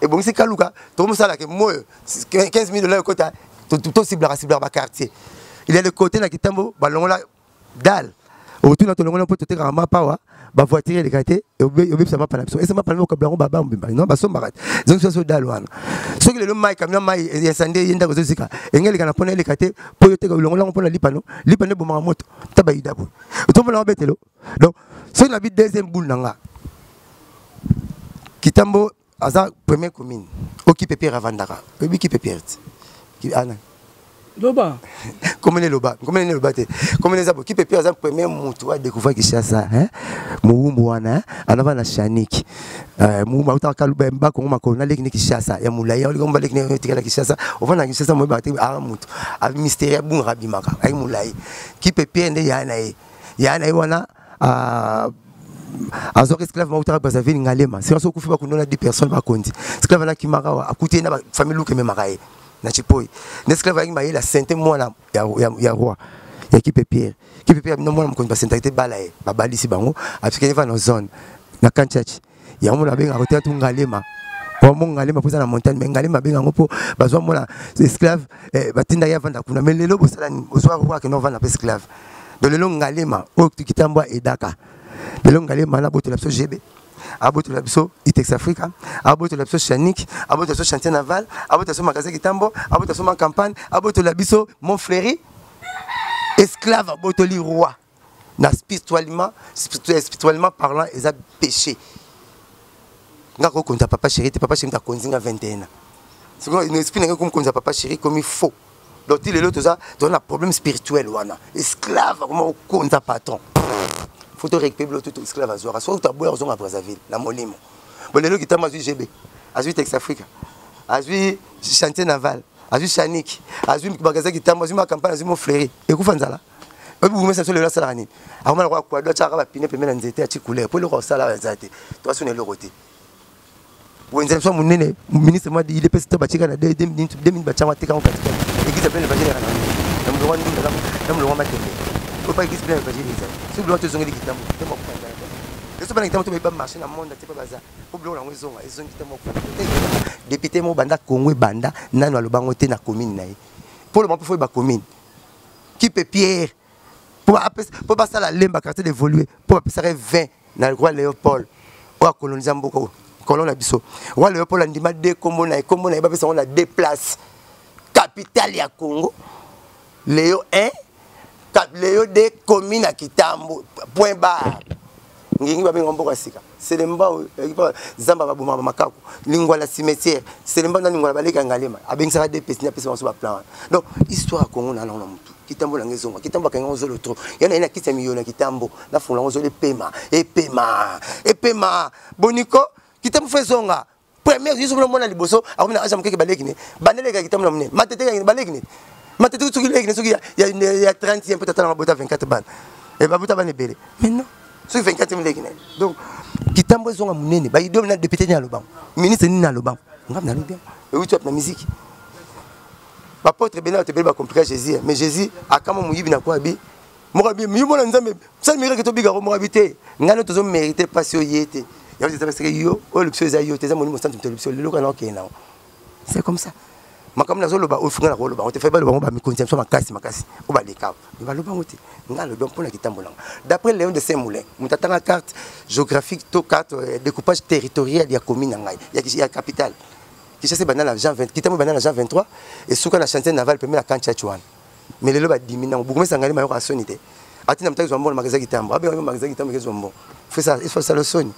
[SPEAKER 1] ebongisi kaluka tokomosalaka moyo 15 000 dollars ekota tosiblaka siblaka baquartier il ya le côté na kitambo balongola dale otuna tolongola mpo totekaka mapawa bavoiture eleka te obebisa mapa na biso ese mapa na biso okabla yango babambo bimaki no basombaka te ezongisa biso dale wana soki lelo mai kamio mai esande ye ndako ezozika enge eleka na mpo na eleka te mpo yo teka olongola yango mpo na lipano lipano ebomaka moto ta bayida boye otomona yango betelo donc soki nabi deuxième boule na nga kitambo aza premier commune okipe pierre avandaka oyebi kipe pierre ti ana loba
[SPEAKER 2] komene
[SPEAKER 1] loba komene ne loba te komene eza bo kipe pierre aza premier motu wa découvrir kinshasa hein mowumbu wana anava na shaniki euh, mowumbu autaka kaluba mba kongo makolo naleki ne kinshasa ya molai oleki omba leki ne tikala kinshasa ovanda na kinshasa moyebaka te aa motu mystère abungaka abimaka ayi molai kipe pierre nde yaya na ye ya na ye wana ah, azwaka esclave moko taka brazzaville ngalema sika so okufi bakundo na 10 personnes bakonzi esclave alakimaka awa akuti ye na bafamille luka ememaka ye na chipoi na esclave ayaki mayela sente mwana ya, ya, ya roi ya kipe pierre kipe pierre na mwana mokonzi basentaki te bala ye babalisi bango atikaki va na zone na kanchachi yango na benga kote tu ngalema po mo ngalema poza na montagne mais ngalema benga ngo po bazwa mona esclave eh, batinda ya vanda kuna mais lelo bosala ni bozwa ko ke no vanda pe esclave de lelo ngalema o kitambwa edaka lelo ngalema na botola biso jebe abotola biso itex africa abotola biso chanique abotola biso chantier naval abotola biso magasin kitambo abotola biso ma campagne abotola biso mon fleuri esclave abotoli roi na spirituellement spirituellement parlant eza péché nga ko konza papa chéri te papa chéri ta konzi nga 21 ans sikoyo une esprit nanga comme konza papa chéri comme faux donc ti lelo toza toza na problème spirituel wana esclave akoma kokonza patron faut to récupérer bilo tout esclave azwaka soki otaboya kozonga brazzaville na molimo bo lelo kitama azwi gb azwi tex africa azwi chantier naval azwi chaniki azwi magasin kitama azwi makampane azwi mofleri ekufa nzala oyebi bourgmestre so lelo asalaka nini akoma lokola kuado atyaka bapine pembe na nzete atie couleur mpo eloko akosala awa eza te to asuna eloko te wenze biso monene ministre mwa idps to batika na 2000 batyango atekango katika eglise apene evangile yaka na molongwa ndunda na molongwa matembe oyo pa eglise pene evangile ezali soki biloko tozongeli kitambo kitambo akokanda biso bana kitambo to bayebi bamarché na monde te mpe baza mpo biloko yango ezonga ezongi kitambo akokanda depute moko banda kongo ebanda nano alobango te na commune na ye mpo loba mpo foye bacommune qui peut pierre mpo basala lemba quartier d'évolue mpo bapesaka 20 na roi léopold oyo akolonisa mboka oyo kolo na biso roi léopold andima de nkombo na ye nkombo na ye bapesa yango na de place capitale ya congo leo 1 leo 2 commune ya kitambo point bar ngingi babengaka mboka sika selemba zamba baboma bamakaku lingwala cimetière selemba na lingwala baleka ngalema abengisaka de pesi apesa banso baplan wana donc histoire ya congo na lango na motu kitambo nanga ezonga kitambo akanga yango zolo tro ya na ye na kisi ya miyola kitambo nafungola yango zolo epema epema epema boniko kitambo fo ezonga premier yesu bino mona liboso akomi na aja mokeke baleki ne bandele ekaki tambola monene matete ekaki baleki ne matete soki leki ne soki ya 30 ye mpe tatala mabota 24 bana e babota bana ebele mais non soki 24 mileki ne donc kitambo ezonga monene baidole na depute nini alobango ministre nini alobango ngambi nalobi yango euti wapi na miziki bapotre ebele bato ebele bakomplika jésus mais jésus akama moyibi na kua bi mokabi yo mona nzambe sali mekaki tobika ko mokabi te ngai no tozo merite pasi oyo ye te ya eza parce que yo oyo lobisa eza yo te eza molimo santu moto lobisa lelo kana okende nango c'est comme ça makambo nazoloba oyo funga na koloba yango te fai baloba yango bamikonzi ya biso makasi makasi oyo balekao me baloba yango te ngai alobi mpo na kitambo nango d'après léon de saint moulin moto atanga carte géographique to carte euh, découpage territorial ya commune na ngai ya capitale kishasa ebanda na jean 20 kitambo ebanda na jean 23 esuka na chantier naval pembe na kantiach wana mais lelo badimi nango bokomisa ngai mayoka soni te ati na mutaki zwa mbongo na magasin kitambo abenga yo magasin kitambo ekezwa mbongo fesa esala soni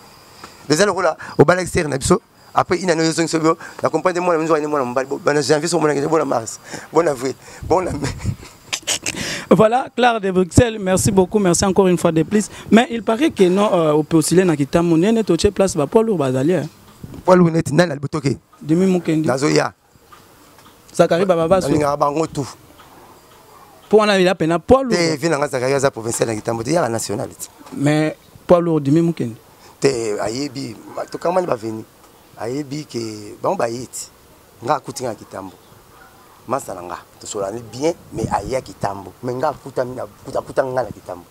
[SPEAKER 1] eza lokola obalaki sere na biso après ina no yozongi sobi na comprendre mwana minzo wana mwana mobali bana janvier so mwana ngene bona mars bona avril bona mai Voilà,
[SPEAKER 2] Claire de Bruxelles, merci beaucoup, merci encore une fois de plus. Mais il paraît que non, euh, au Peusilé, na Kitamu, nene, toche place, ba poids lourd, bazali. Hein. Poids lourd, neti,
[SPEAKER 1] nani, albotoke. Demi Mukendi. Nazoya.
[SPEAKER 2] Zachary Baba Basso. Alingaka bango tout. Pour on a eu appel à Paul. Te vina nga Zachary aza
[SPEAKER 1] provincial na kitambo te yaka national te. Mais Paul
[SPEAKER 2] lourd dimi mukende. Te ayebi
[SPEAKER 1] to kama ni ba venu. Ayebi ke bango ba yeti. Nga akuti nga kitambo. Masa na nga to solani bien mais aya kitambo. Mais nga akuta mina akuta nga na kitambo.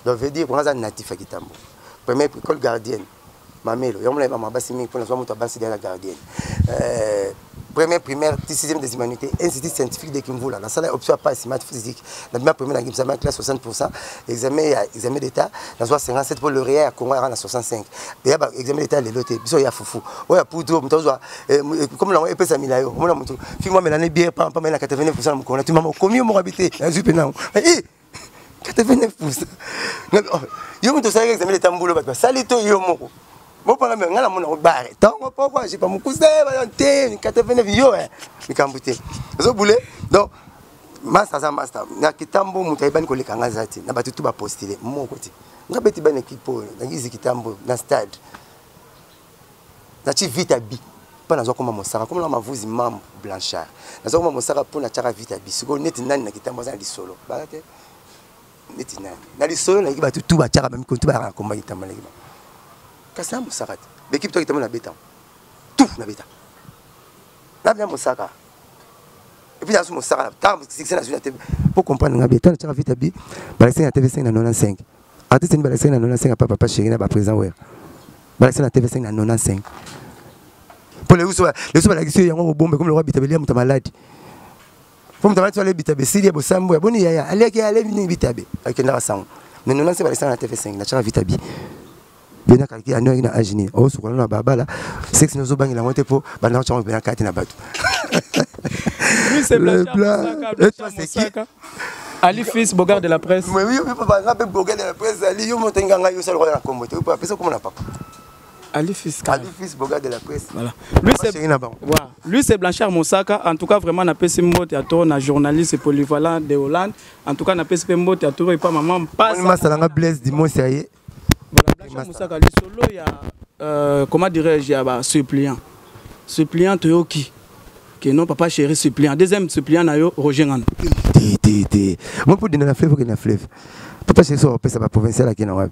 [SPEAKER 1] Donc veut dire ko nga za natif ya kitambo. Première école gardienne. mamelo yango naye bama basi mingi mpo nazwa moto ya basi dala gardienne euh, première primaire ti sixième des humanités institut scientifique de kimvula nasala option ya pasi math physique na bima première na examen ya classe 60 pourcent examen ya examen d'état nazwa 57 mpo lauréat ya congo yaka na 65 eya ba examen d'état lelo te biso ya fufu oyo ya poudre moto azwa eh, eh, comme nango epesami na yo omona moto fi mwa melane bière pampa mai na 89 pourcent na mokolo na tumama okomi yo moko abi te nazwi mpe nango eh, 89 pousa oh, yo moto osalaki examen leta mbulo bato basali to yo moko bopanga me ngai namona obare ntongo poko ajipa mokuse bayo te 89 yo eh. likambo te ozobule donc masta aza masta na kitambo moto ayebani koleka ngai aza te na bato tu bapostile moko te ngai beti bana ekipe oyo nangiziki tambo na stade natie vita bi mpo naza koma mosaka komona mavuzi mambo blanchard naza koma mosaka mpo natiaka vita bi sikoyo neti nani na kitambo aza na lisolo baza te neti nani na lisolo nayiki bato tu batiaka bamikolo tu bayaka na komba kitambo nayiki bango kasi na mosaka te bekipe to kitambo nabetango tu nabeta nabina mosaka epuis nasu mosaka ntango sikisa nazwi na tebe mpo comprendre nga bi ntango natiaka vita bi balakisi na tv 5 na 95 artiste nini balakisaki na 95 apa papa chéri na baprésident wer balakisaki na tv5 na 95 mpo leso balakisi yo yango kobomba ekomi lokwa bitabe lia moto ya maladi mpo moto amaladi so ale bitabe esili ya bosambo ya boni yaya aliaki ale nini bitabe akendaka sango mais 95 balakisaka na tv5 na tyaka vitabi bena kalki ando yangi na age nini osokola na babala sexe nini ozobangela yango te mpo banda kotyango mpena kati na bato
[SPEAKER 2] Ali Fils, Bogard de la presse. Mais oui, papa, nga pe
[SPEAKER 1] Bogard de la presse, Ali, yo moto nganga yo sala kwa na kombo te. Papa, pesa komona papa. Ali Fils. Ali Fils, Bogard de la presse. Voilà. Lui c'est voilà.
[SPEAKER 2] Lui c'est Blanchard Mosaka. En tout cas, vraiment na pesi mbote à toi na journaliste polyvalent de Hollande. En tout cas, na pesi mbote à toi et pas maman pas. On m'a salanga Blaise Dimon
[SPEAKER 1] ça y est. Blanche Moussaka,
[SPEAKER 2] lisolo ya euh, comment dirais-je ya ba suppliant suppliant toyoki que non papa chéri suppliant deuxième suppliant na yo Roger Ngana te te te
[SPEAKER 1] moi pour dina na fleuve que na fleuve papa chéri so pesa ba provincial à kina wapi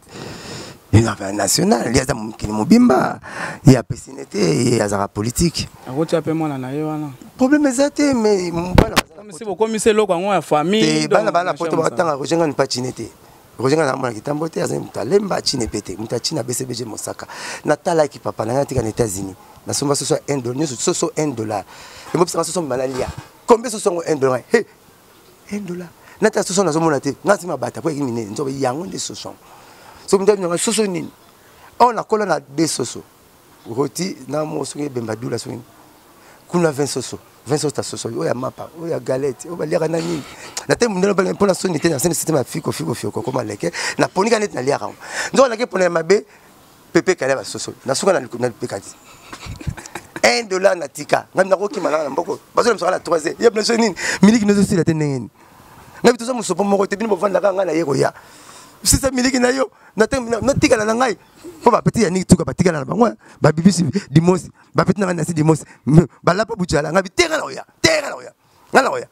[SPEAKER 1] affaire nationale ye aza mokili mobimba ye apesine te ye azalaka politike akotia mpe mwana na
[SPEAKER 2] ye wana problème eza te
[SPEAKER 1] mais bana bokomisi
[SPEAKER 2] eloko yango ya famille bana bana poto batanga
[SPEAKER 1] kojengani patine te roger nga namona kitambo te azali moto alemba chine pe te moto ya chine abcbg mosaka natalaki papa na ngai natika na états-unis nasomba soso ya 1 dollar nyonso soso 1 dollar emobisaka soso mima nalia kombe soso yango 1 dollar he 1 dollar natala soso nazomona te nga nsima bata po yaki minene nzoba yango nde soso yango soki moto abinanga soso nini awa nakola na de soso roti na mo soki ebemba dula soki kuna vin soso vin soso tasosoli oyo ya mapa oyo ya galete oyo baliaka na nini na te mundele bale mpo na soni te nasende sitema ya fiko fiko fiko kokoma leke naponika neti naliaka yango nzoka nake pona ya mabe pepe kale basosoli nasuka na lipeka ti 1 dollar na tika ngai nakokima nanga na mboko bazolemsaka na 3 heures yebna so nini miliki nozosila te ndenge nini ngai bitoza mosopo moko te bino bovandaka ngai na ye koya sisa miliki na yo natikala na ngai mpo bapeti ya niki tuka batikala na bango babibisi dimosi bapeti nanga nasi dimosi balapa bucala ngabi te nga na oya te nga na oya nga na oya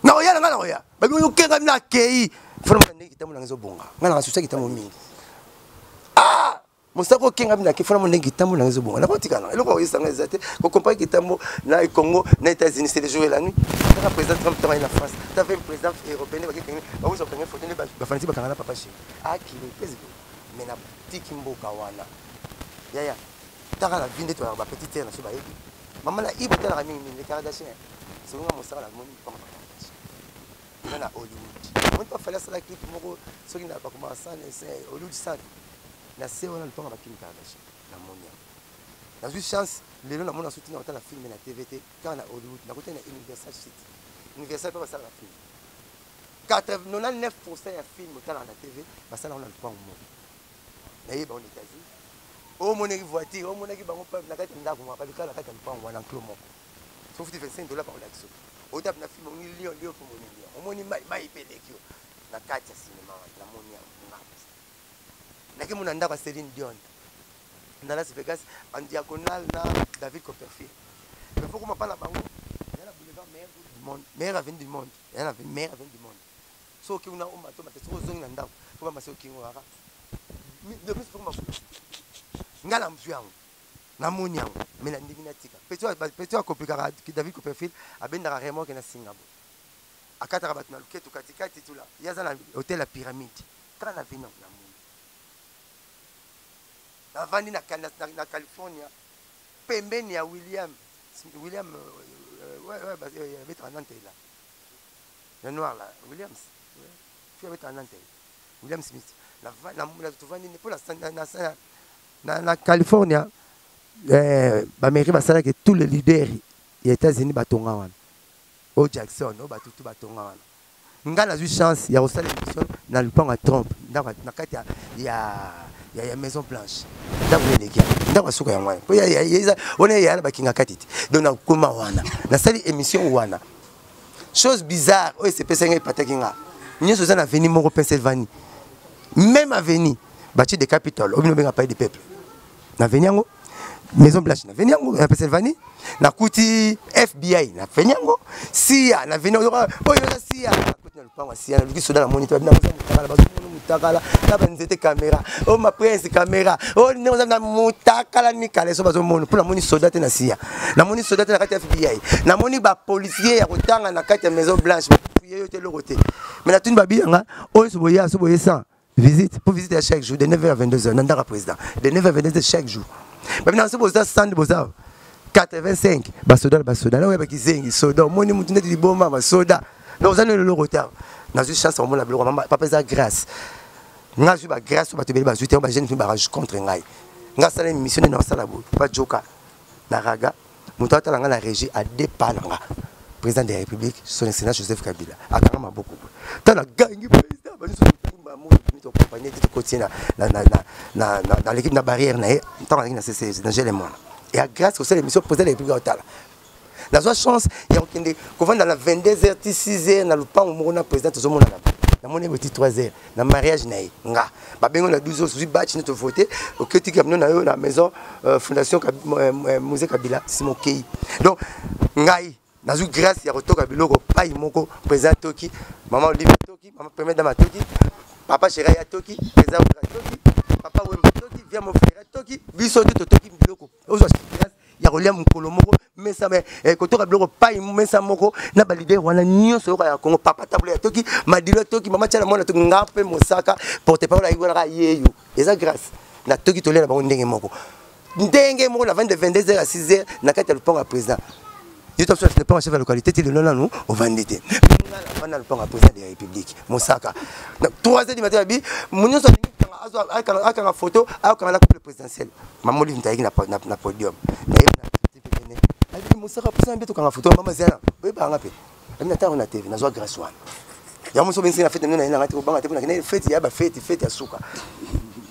[SPEAKER 1] na oya na nga na oya babi oyo kenga na kei vraiment ndenge kitambo nanga ezobonga nga nanga susa kitambo mingi ah mosaka okenga bina kefana mo ndenge kitambo nanga ezobonga nakotika na eloko oyesanga eza te kokompare kitambo na congo na états-unis c'est le jour et la nuit taka président trump tanga na france tava président européen bakekenge bakozwa kenge foto nde bafanisi bakanga na papa chéri akili ah, pesi mais na tiki mboka wana yaya taka la vie nde toyaka ba petite sere na biso bayebi mama na ibo talaka mingi mingi le kardachien selonga mosala na moni mpanga bakardachien eza na hollywood moni pa fali asala clip moko soki na bakoma sane se hollywood sane na se wana lupanga bakimi kardachien na moni yango nazwi chance lelo namona soki tina kotala filme na tv te kaka na hollywood nakotali na universal city universal mpe basalaka filme 99 pourcent ya film otalaka na tv basalaka na lupango moko naye bango na états-unis omonaki voiture omonaki bango peuple na kati ya ndako moko balukala na kati ya lupango wana enclos moko sofuti 25 dola bakolaki soki otape na film omoni lion lion mpo omoni lion omoni mai mai mpe eleki yo na kati ya sinema wana namoni yango nakemona ndako ya celine dion na las vegas en diagonale na david copperfield mais fokoma mpa na bango eza na boulevard meilleur du monde meilleur avenue du monde Elle avait mère avec du monde. So ki una omba to matesi ozongi na ndako ko ba maseo kingo aka. De plus pour ma fou. Ngala mzu yango. Na moni yango mais na ndingi na tika. Petit petit a kopikaka ki David Copperfield abendaka remorque na Singabu. Akataka bato na luketu kati kati tula. Yaza na hôtel la pyramide. Kaka na vino na moni. Na vandi na na California. pembeni ya William William abetaka na ntela ya noir la Williams fi abetaka na ntela William Smith tovandi mpo na California eh, bamericain basalaki tous les leaders ya États-Unis batonga wana o Jackson o batutu batonga wana Nga na zui chance ya kosala emission na lupango ya Trump, ndako na kati ya ya ya, ya Maison Blanche. Ndako eleki ndako suka yango wana. Po ya ya ya ona ya na bakinga kati te. Donc na koma wana. Na sali emission wana. Chose bizarre, oyo se pesa ngai pataki nga. Nyoso za na veni moko Pennsylvanie. Même avenue, bâti des capitales, obino benga pays des peuples. na veni yango maison blanche na veni yango na pennsylvanie nakuti fbi na veni yango siya na veni oyo eza siya nakuti na lopango ya siya naluki soda namoni te babina moza motakala bazomona motakala na banzete kamera o oh, maprince kamera o oh, ndenge oza na motakala mikala eso bazomona mpo namoni soda te na siya namoni soda te na kati ya fbi namoni bapolisier ya kotanga na kati ya maison blanche bakuye yo te eloko te mai natuni babi yanga oyo oh, so boya so boye 100 visite mpo visite ya chaque jour de 9 heures à 22 heures na ndaka président de 9 heures à 22 heures chaque jour babinaka soki boza sande boza 85 basoda na basoda naoya bakizengi soda omoni motu ndeti liboma basoda donc oza nelo eloko te nazwi chance omona biloko mama papa eza grâce nga azwi bagrâce oyo bato ebele bazwi te yango bajeune fini barage contre ngai nga asala émission nde naosala boye bajoka na raga moto atala nga na régie adepa na nga président de la république son excellence joseph kabila akanga maboko tala gangi président baokompanie te tokotie na l'équipe na barrière na ye ntango azalaki na ccg na gele mwana ya grâce kosala émission président de la république aotala nazwa chance ya kokende kovanda na 22 heures ti 6 heures na lopango moko na président tozomonana namoni ebo ti 3 heures na mariage na ye nga babengo na 12 ozwi batch neti ovote oketi kamino na yo na maison euh, fondation euh, euh, muse kabila nsima okei donc ngai nazwi grâce ya kotoka biloko pai moko président toki mama olive toki mama premier dame atoki papa shera ya toki président wera toki papa wemba toki via mofera toki biso nde totoki biloko ozwa surveillance ya kolia mokolo moko mesa eh, kotoka biloko pai mesa moko na balidere wana nyonso yoka ya kongo papa tabula ya toki madilo toki mama tiana mwana toki nga mpe mosaka porte parole ayiki wana kaka yeyo eza grâce na toki tolia na bango ndenge moko ndenge moko na 22 22 heures ya 6 heures na kati ya lopango ya président yo ta soif pas chef ya localité ti lelo nanu ovandi te vanda lopanga président de la république mosaka donc 3 heures du matin abi nyonso alingi akanga photo akanga na couple présidentiel mamoli nta ayeki na podium mosaka mposa mpe tokanga photo mama ziana oyebanga mpe ami na ntango na tv nazwa grâce wana yango moso benisi na fete mino na ye nanga te kobanga te mpo nakende fete ya bafete fete ya suka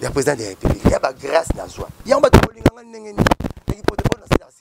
[SPEAKER 1] ya président de la république ya bagrâce nazwa yango bato bolinganga ndenge nini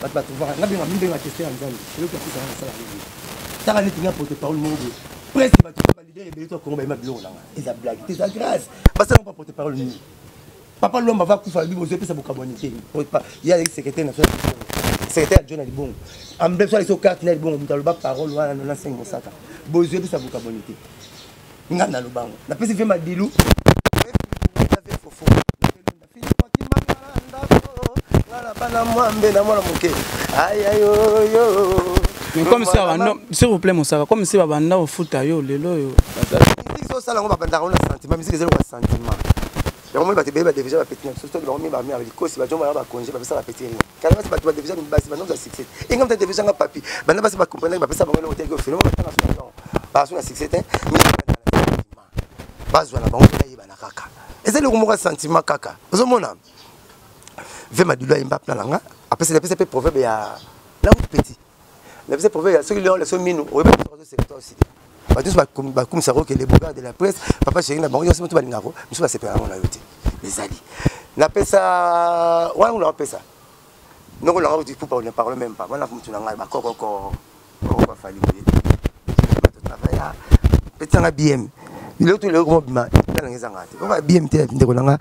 [SPEAKER 1] bato batuvaka nga benga mibenge bakestion ya nzambe eloko ya kusanga nasala nini tala neti nga poto parole moko boye presque bato balidere ebele to ya kongo bayema biloko na nga eza blage te eza grâce basala mpa poto parole nini papa lwamba va kufa alobi bozo epesa bokabwani te ye aleki secrétaire na fere secrétaire ya john alibongo ambeso aleki okarte na libongo moto aloba parole wana na nasengi mosaka bozo epesa bokabwani te nga naloba yango napesi mpe madilu
[SPEAKER 2] bana mwambe na mwana moke ayayoyo comme si abanda s'il vous plaît mosaka comme si babanda kofuta yo lelo oyo osala yango
[SPEAKER 1] babandaka ona sentiment misiki ezali sentiment yango moni bato ebele badevisa bapeti na biso soki bango mibami ya likosi bajomba na bakonje bapesa bapeti rien kana basi bato badevisa basi banongo ya succès enga mta devisa nga papi banda basi bakomprendre bapesa bango eloko teke ofele batanga so na baso na succès te bazwa na bango mpe yebana kaka eza eloko moko ya sentiment kaka ozomona ve madilu ayemba plan na nga apesa mpe proverbe ya langue petit na biso province ya soki leon leso minu oyebi biso bazo sepeta aussi te bato nyonso bakumisa ko kele bogard de la presse papa chéri na bango nyonso moto balingaka ko biso basepela yango na yo te ezali napesa wana kuna napesa noko nanga kuti pupa ne parle même pas wana motu na ngai bakokoko oko bafali boye bato travailla petanga bm biloko to eloko mobima epela nanga ezanga te okoba bm te ndeko nanga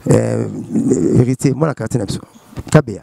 [SPEAKER 1] héritier mwana quartier na biso kabeya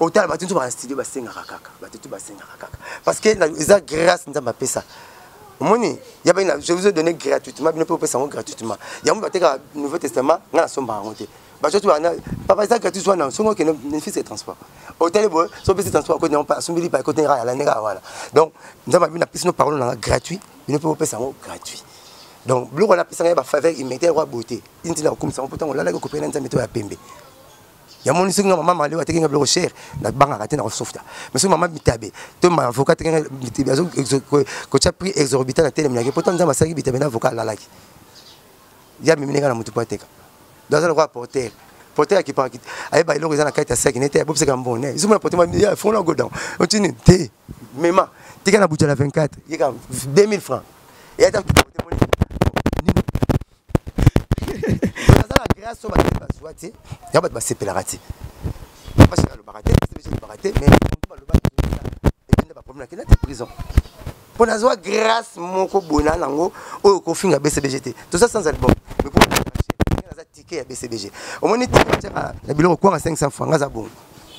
[SPEAKER 1] otala bato nso baa studio basengaka kaka bato tu basengaka kaka parce que eza grâce nzambe apesa omoni ya bana je vous ai donné gratuitement bino mpe opesa yango gratuitement yango batekaka nouveau testament ngai nasombaka yango te bacoci wana papa eza gratuit wana songo okende nefisi ya transport otali boye so opesi transport akoti yango asombeli pa ekoti ngai alandi kaka wana donc nzambe abino apesi no parole nanga gratuit bino mpe bopesa yango gratuit donc biloko wana apesanga ye bafaveur immédiat yango aboye te intina kokumisa yango mpo ntango olalaki okopeli na nzambe to ya pembe ya moni soki nga mama malewa teke nga biloko cher nabangaka te na kosofta mais soki mama bitabe to ma avocat teke nga bitabe azo kotya prix exorbitant na telemi nake pourtant nzambe asalaki bitabe na avocat alalaki ya mimi neka na motu po ateka do aza lokola porter porter akipaka ayeba eloko eza na kati ya saki nete abobisaka mbone ezuma na porter ya fongo na godon otini te mema tika na butala 24 yeka 2000 francs eyata baza na grâce oyo bato bazwa te ya bato basepelaka te basi balobaka te basi balobaka te mais baloba ekende baproblème akenda te prison mpo nazwa grâce moko boye na yango oyo okofinga bcbg te toza sans album mais mpo naza tike ya bcbg omoni tike na biloko kwanga 500 franc aza bongo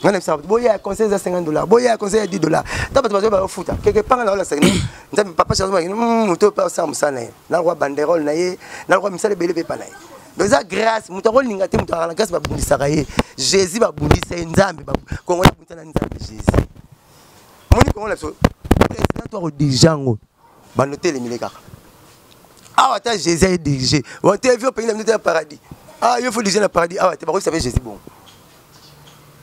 [SPEAKER 1] nga na bisabu boya ya conseil eza 50 dollars boya ya conseil ya 10 dollars ta bato bazoya bayofuta keke panga na olasa kino nzambe papa chazo bakino hmm, moto oyo mpe osala mosala na ye nalokwa banderole na ye nalokwa misala ebele mpe epa na ye donc eza grâce moto akolinga te moto akala grâce babundisaka ye jésus babundisa ye nzambe kongo yabundisa na nzambe jésus omoni kongo na biso président to akodirige yango bando telemile kaka awa ata jésus aye dirige wante avi opengi na bino te ya paradis ah yo fo dirige na paradis awa te bakoyisa mpe jésus bongo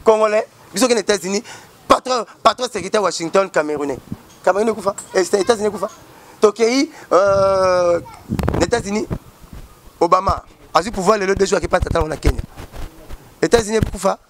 [SPEAKER 1] congolais biso kende états-unis patron patron secrétaire washington camerounais cameroun ekufa eh, états-unis ekufa tokei euh, na états-unis obama azwi pouvoir lelo deux jours akepata ntango na kenya états-unis ekufa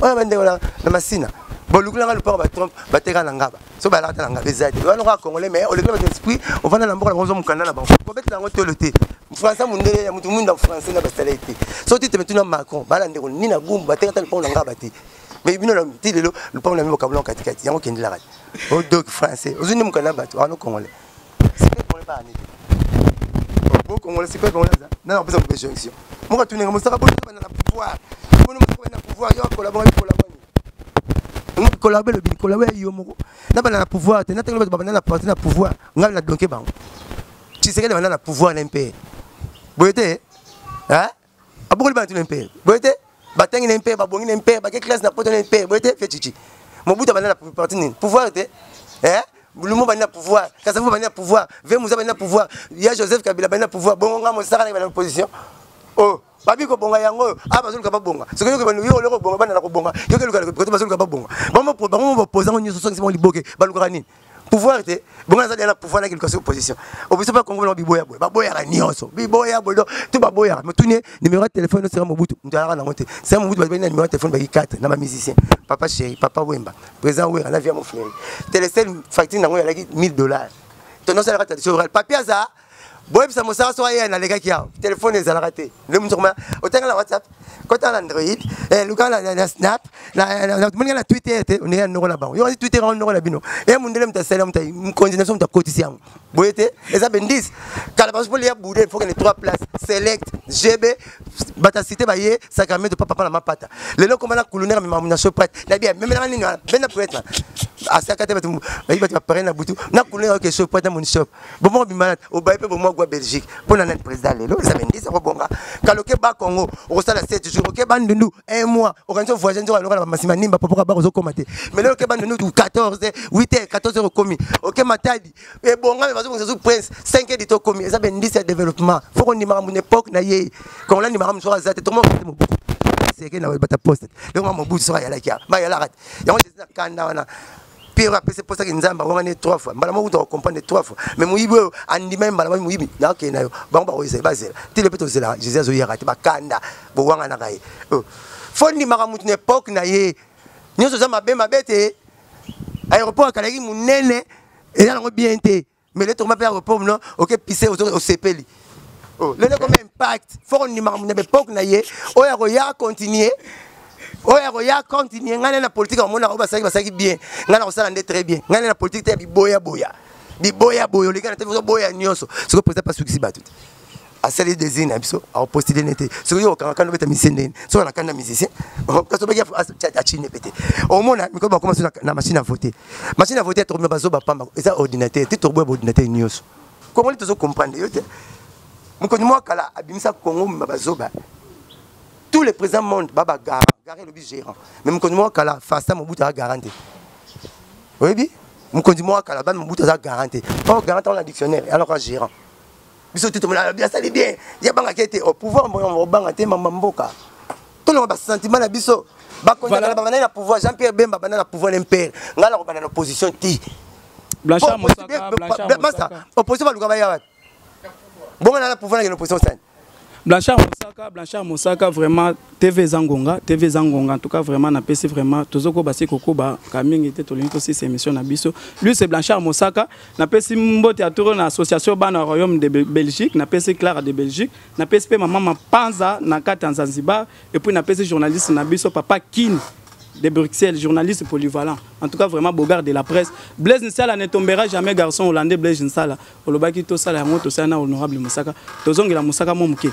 [SPEAKER 1] oyo bandeko na masina bolukula nga lupaka batrompe bateka na ngaba so balaka te na ngaba eza te wana kaka congolais mais olekela bato esprit ofanda na mboka na bango mokanda na bango kobetela yango tolo te français mondele ya moto mwinda français na basala ye te so ti teme tuna macron bala ndeko nini na gumbu bateka ata lupango na ngaba te mais bino ti lelo lupango na bino bokabulana katikati yango okendelaka te odoki français ozwi nde mokanda na bato wana congolais Sipele Congolais ba nini? Bo Congolais sipele Congolais za. Na na pesa kopesa jonction. Moka tuni nga mosaka boni bana na pouvoir. Boni mosaka na pouvoir yo akola bonga kola boni. Ngo kola belo bi kola ya yo moko. Na bana na pouvoir te na tango ba bana na parti na pouvoir. Ngai na donke bango. Tshisekedi bana na pouvoir na mpe. Boyete. Hein? abokoli bana tuna mpe boye te batangi na mpe babongi na mpe bake classe na poto na mpe boye te fetichi mobutu abandi na parti nini pouvoir te eh lumu bandi na pouvoir kasavu bandi na pouvoir ve muza bandi na pouvoir ya joseph kabila bandi na pouvoir bongo nga mosaka na bana opposition oh babi kobonga yango oyo a ah, bazoluka babonga soki yoki bano yo oloko kobonga bana na kobonga yoki eluka kote bazoluka babonga bango bapoza ngo nyonso soki bango liboke balukaka nini pouvoir te bongo aza deya na pouvoir na kilikasi opposition opposition mpe kongo bango biboya boye baboyaka nyonso biboya boye donc to baboyaka motuni ye numéro ya telefone oseka mobutu moto alaka nango te seka mobutu bato bani na numéro ya telefone baki 4 na bamusicien papa chéri papa wemba président wera na via mofleri telesel facture nango yalaki 1000 dollars tonosalaka tradition orale papier aza boyebisa mosala so aya nalekaki awa telefone ezalaka te nde mosuku ma otanga na whatsapp kota na android eh, luka na snap moninga na twitter te ondenge ya noko na bango yokosi twitter yango noko na bino e eh, mondele moto asali moto mokonzi na biso moto akotisi yango boye te eza bendise kala baso mpo liya bude fo kende trois place select gb bato ya site baye sacramento pa papa na mapata lelo koma na kulunera memamu na shoprite na bia memelaka nini wana benda poetna asaka te bato bayi bato baparene na butu na kulunera oke shoprite na monishop bomoko bimana obaye mpe bomoko gwa belgique mpo na nani président lelo eza bendisi akobonga kala okeba congo okosala 7 jour okeba ndundu un mois okanisi ovoyage nzoka lokola bamasima nimba popoka bako ozokoma te mais lelo okeba ndundu 14 8 heures 14 heures okomi oke matadi ebonga me bazobongisa zu prince 5 heures dito okomi eza bendisi ya développement fo kondimaka muna époque na ye kongola ndimaka mosuka aza te tokomoka mobutu seke na bata poste lelo ma mobutu soka ayalaki bayalaka te yango ezali na kanda wana Pierre apesi posa ke nzambe awanga ne trois fois mbala moko kutu akokomprendre trois fois mais moyibi oyo andima ye mbala moko moyibi nakokende na yo bango bakoyisa bazela ti lepe tozela jésus azoyaka te bakanda bowanganaka ye oh. fo ndimaka motu na epoke na ye nyonso oza mabe mabe te aéroport akalaki monene eza nango bien te mais le tokoma mpe ya repome no oke pise osepeli oh, lelo ekoma impact foko ndima makambo na baepoke na ye oyo akoya continue oyo akoya continue ngai na politike amonaka oyo basalaki basalaki bien ngai nakosala nde très bien ngai na politike te ya biboyaboya biboyaboya olekana te ozoboya nyonso sikoyo président pasukisi bato te asali desir na biso aopostile ne te soki yo okanga kanda obeta misie ndeni soki ana kanda musicien kasi obaki achine pe te omona mikolo bakoma so na machine ya vote machine ya vote ya tokomia bazoba pamba eza ordinateur te tokoboya baordinateur nyonso kongoli tozo comprendre yo te mokonzi mwa kala abimisa kongo mima bazoba tous les présents monde baba gara gara elobi gérant mais mokonzi mwa kala fasta mobutu aza garant te oyebi mokonzi mwa kala bami mobutu aza garant te or garant aza na dictionnaire alaka gérant biso tu tomona alobi asali bien ye abangaki ete au pouvoir obanga te mama mboka tolonga basentiment na biso bakondakana babandaki na pouvoir jean pierre bemba abanda na pouvoir na mpere ngai nakobanda na opposition te
[SPEAKER 2] opposition baluka
[SPEAKER 1] baya wapi bongo na na pouvoir nakende opposition sani Blanchard Mosaka,
[SPEAKER 2] Blanchard Mosaka, vraiment TV Zangonga, TV Zangonga, en tout cas vraiment na PC vraiment, tozoko basi kokoba kamingi te tolingi aussi cette émission na biso. Lui c'est Blanchard Mosaka, napesi mbote ya toro na association bana royaume de belgique napesi clara de belgique napesi mpe mama mapanza na kati ya zanzibar epuis napesi journaliste na biso papa kini de bruxelles journaliste polyvalent en tout cas vraiment bogard de la presse blaise nsala ne tombera jamais garçon hollandais blaise nsala olobaki tosala yango tosala na honorable mosaka tozongela mosaka mo moke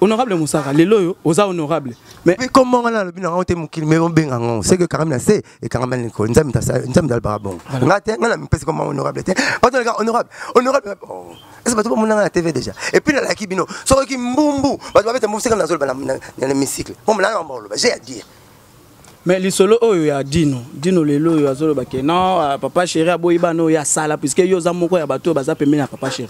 [SPEAKER 2] honorable mosaka lelo oyo oza honorable mais comme mongana alobi na ngai
[SPEAKER 1] te mokili me obenga ngo seke karami na se ekangama na likolo nzambe nzambe alobaka bongo nga te nga na mipesi koma honorable te bato naleka honorable honorable ese bato bamona nga na tv déjà epuis nalaki bino sokoki mbumbu bato babeta mbumbu seka nazoloba na hémicycle mpo molanga yango bakoloba j'ai à dire mais
[SPEAKER 2] lisolo oyo ya dino dino lelo oyo azoloba ke non ah, papa chéri aboyi bana oyo asala puiske yo oza moko ya bato oyo baza pembeni ya papa chéri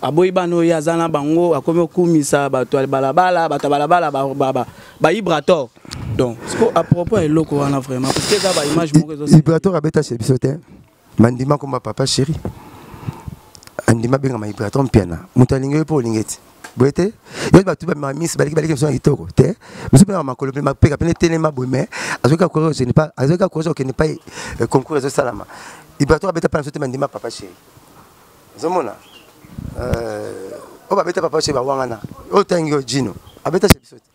[SPEAKER 2] aboyi bana oyo aza na bango akomi okumisa bato ya balabala bato ya balabala ba ibrator donc siko à propos ya eloko wana vraiment parce que eza ba image moko ezo ibrator abeta chez biso
[SPEAKER 1] te mandima koma papa chéri andima abengama ibrator mpiana moto alingi yo mpo olingi ti boye te yo bato bamamisi baleki baleki biso na kitoko te biso mpe na makolo mpe mapeka mpe netelema boye mais azoki akourage azoki akourage okende mpai concours ezosalama ibrator abeta mpa na biso te mandima papa chéri ozomona oyo babeta papa chez bawangana oyo tangi oyo jino abeta chez biso te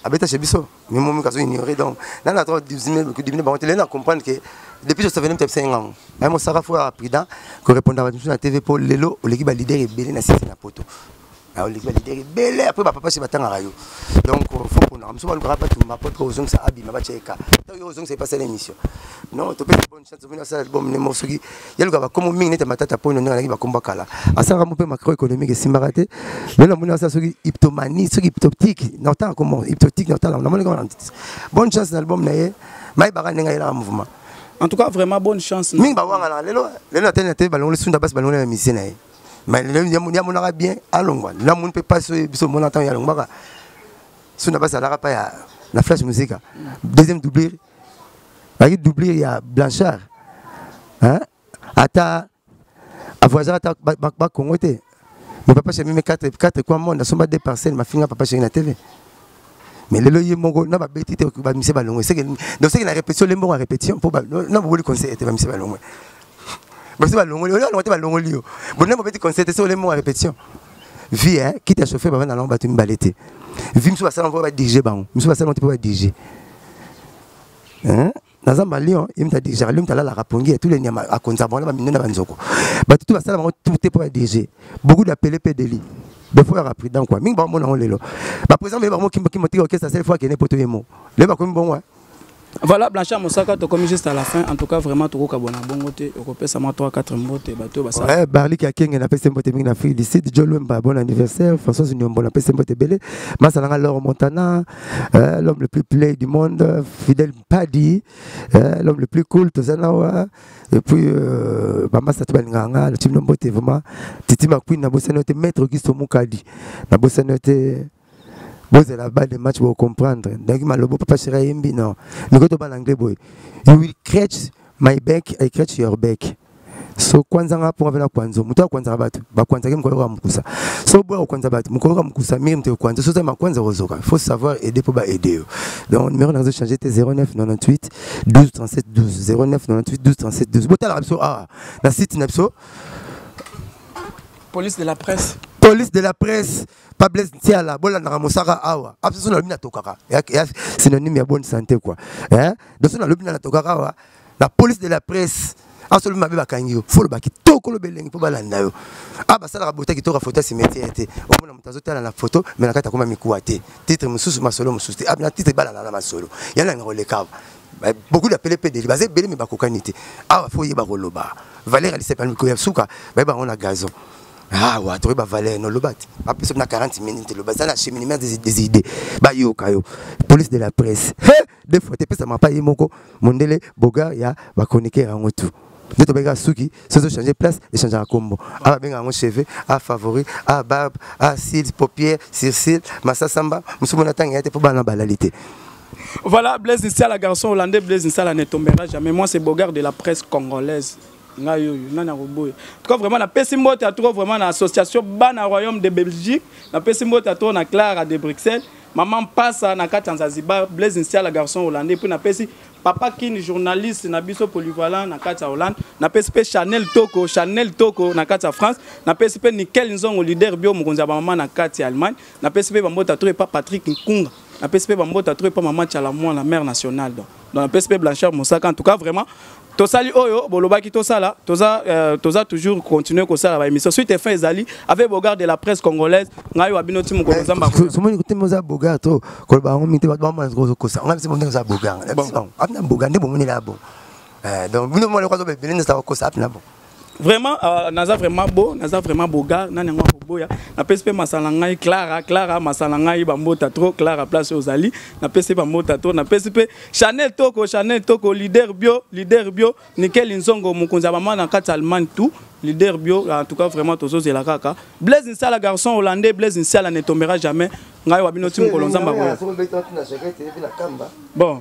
[SPEAKER 1] abeta chez biso mimomi kazo ignorer donc nana atoko dibine bango te lelo na comprendre que depuis je savais même tapisa ye ngango aye mosaka fo ya prudent korepondaka bato mosusu na tv mpo lelo oleki balider ebele na sisi na poto naoleki balidere ebele apres bapapasi batangaka yo donc euh, fo ponaka mosu balukaka bato mapotre ozongisa abima batya ye ka to yo ozongisa ye pasala émission non topesi bonne chance omoni asala album ne moko soki yaluka bakombo mingi nete matata mpo ino ndenge alaki bakombo kala asalaka mo mpe macro économique esimbaka te lelo namoni asala soki hyptomanie soki hyptoptique na otanga komo hyptotique na otala namoni kama bonne chance na album na ye mayebaka ndenge ayelaka mouvement en tout cas vraiment
[SPEAKER 2] bonne chance mingi bawangana lelo
[SPEAKER 1] lelo atali na te balongoli sunda basi balongoli na misie na ye mais lelo ye amonaka bien alongwa lelo amoni mpe mpasi oyo biso omona ntango yalongwaka so na bazalaka mpa ya na flash musika deuxième doublure bazalaki doublure ya blanchard ata avoisaka ata bakongo te mais papa chemime 4 kua monde asomba 2 parcelle mafinga papa chemime na tv mais lelo ye moko na babeti te bamise balongwe donc seke na répétition le moko ya répétition mpo na boboli conseil te bamise balongwe basi balongoli oyo alongo te balongoli yo bonema bobeti conseil te so ole moko ya répétition vie hein kiti ya chauffer bavanda nango bato mibale te vie mosusu basala mpo badirige bango mosusu basala mpo badirige naza malion ye mutu adirigaka lio mutu alalaka pongi ya tule nyama akonza bango na bamine na banzoko bato tu basala bango tute mpo badirige beaucoup d'appele mpe deli defo yaka prudent kua mingi bakomona yango lelo baprésident baye bango kimokimo tiki orchestre sele fo akende mpo toye mo lelo bakomi bongo Voilà, Blanchard
[SPEAKER 2] Moussaka, tu comme juste à la fin. En tout cas, vraiment, tu as bon bongote. Tu peux savoir 3-4 mbote. Bateau, basa. Ouais, Barli
[SPEAKER 1] qui a kenge na pese mbote mingi na fille d'ici. Joe Lumba, bon anniversaire. François Zunion, bon pese mbote belé. Masalanga Laure Montana. euh, l'homme le plus play du monde, Fidel Paddy, euh, l'homme le plus cool, Tozanawa, et puis euh, Mama Satubalinganga, le team Nombote, vraiment, Titi McQueen, na bossa note, Maître Augusto Moukadi, na bossa note, bozela ba de match bocomprendre donc malobo papa shira yembi non mikoto bana anglais boye you will catch my back i catch your back so kwanza nga mponga mpe na kwanzo moto akwanzaka bato bakwanzaki mokolo yoka mokusa so boya kokwanza bato mokolo yoka mokusa miri moto ekwanza so ozali makwanza okozoka faut savoir aider mpo baaider yo donc numéro na change te 0998 12 37 12 0998 12 37 12 botalaka biso awa na site na biso
[SPEAKER 2] police de la presse police de la presse
[SPEAKER 1] pa blaise ntiala bolandaka mosaka awa abiso nalobi natokaka synonyme ya bonne santé quoi eh? doso nalobi na natokaka awa la police de la presse asolobi mabe bakangi yo fo olobaki toko oloba elengi mpo balanda yo a ah, basalaka bota kitoko foto ya cimetiere te omona moto azotala na foto me na kati akoma mikuwa te titre mosusu masolo mosusu te ah, na titre balanda na masolo yana nga kolekaka beaucoup d'appelés PDG baza ebele me bakokani te awa ah, fo oyeba koloba valeur ya lisepani mikolo ya suka bayeba yango na gazon awa ah, toyeba valeur noloba te bapesa na 40 minute loba eza na cheminement des idées bayoka yo police de la presse deux fois te pesa mapa ye moko mondele boga ya ba chroniqueur yango tout nde tobengaka suki soki ozochange place echangeaka nkombo a babenga yango cheveux a favori a barbe a cils paupière circile masasamba mosusu mona ntango ya te mpo bana balali te Voilà,
[SPEAKER 2] Blaise Nsala, garçon hollandais, Blaise Nsala ne tombera jamais. Moi, c'est Bogart de la presse congolaise. ngai oyo nani akoboya tuka vraiment napesi mbote ya tro vraiment na association bana royaume de belgique napesi mbote ya tro na clara de bruxelles mama mpasa na kati ya nzazibar blaise nsiala garçon hollandais mpe napesi papa kini journaliste na biso polyvalent na kati ya hollande napesi mpe chanel toko chanel toko na kati ya france napesi mpe nickel nzongo leader bio mokonzi ya bamama na kati ya allemagne napesi mpe bambota tro epa patrick nkunga napesi mpe bambota tro epa mama chala mwana mare nationale donc Donc na pesi pe Blanchard Mosaka en tout cas vraiment tosali oyo bolobaki tosala toza euh, toza toujours continuer kosala ba émission suite fin ezali avec bogard de la presse congolaise ngai wa bino ti mokolo nzamba ko somoni kote moza bogard
[SPEAKER 1] to ko ba ngo mite ba ba mwana ko ko sa ngai se moza bogard bon apna bogard nde bomoni la bon euh donc bino mwana ko zo be bele nda ko sa apna bon vraiment uh,
[SPEAKER 2] naza vraiment beau naza vraiment beau gars nani yango akoboya napesi mpe masala ngai clara clara masala ngai bambota trop clara place ozali napesi bambota trop napesi mpe chanel toko chanel toko leader bio leader bio nikeli nzongo mokonzi ya bamana na kati ya allemagne tout leader bio en tout cas vraiment tozozela kaka blaise nsala garçon hollandais blaise nsala ne tombera jamais ngai wa bino ti mokolo nzambe akoya bon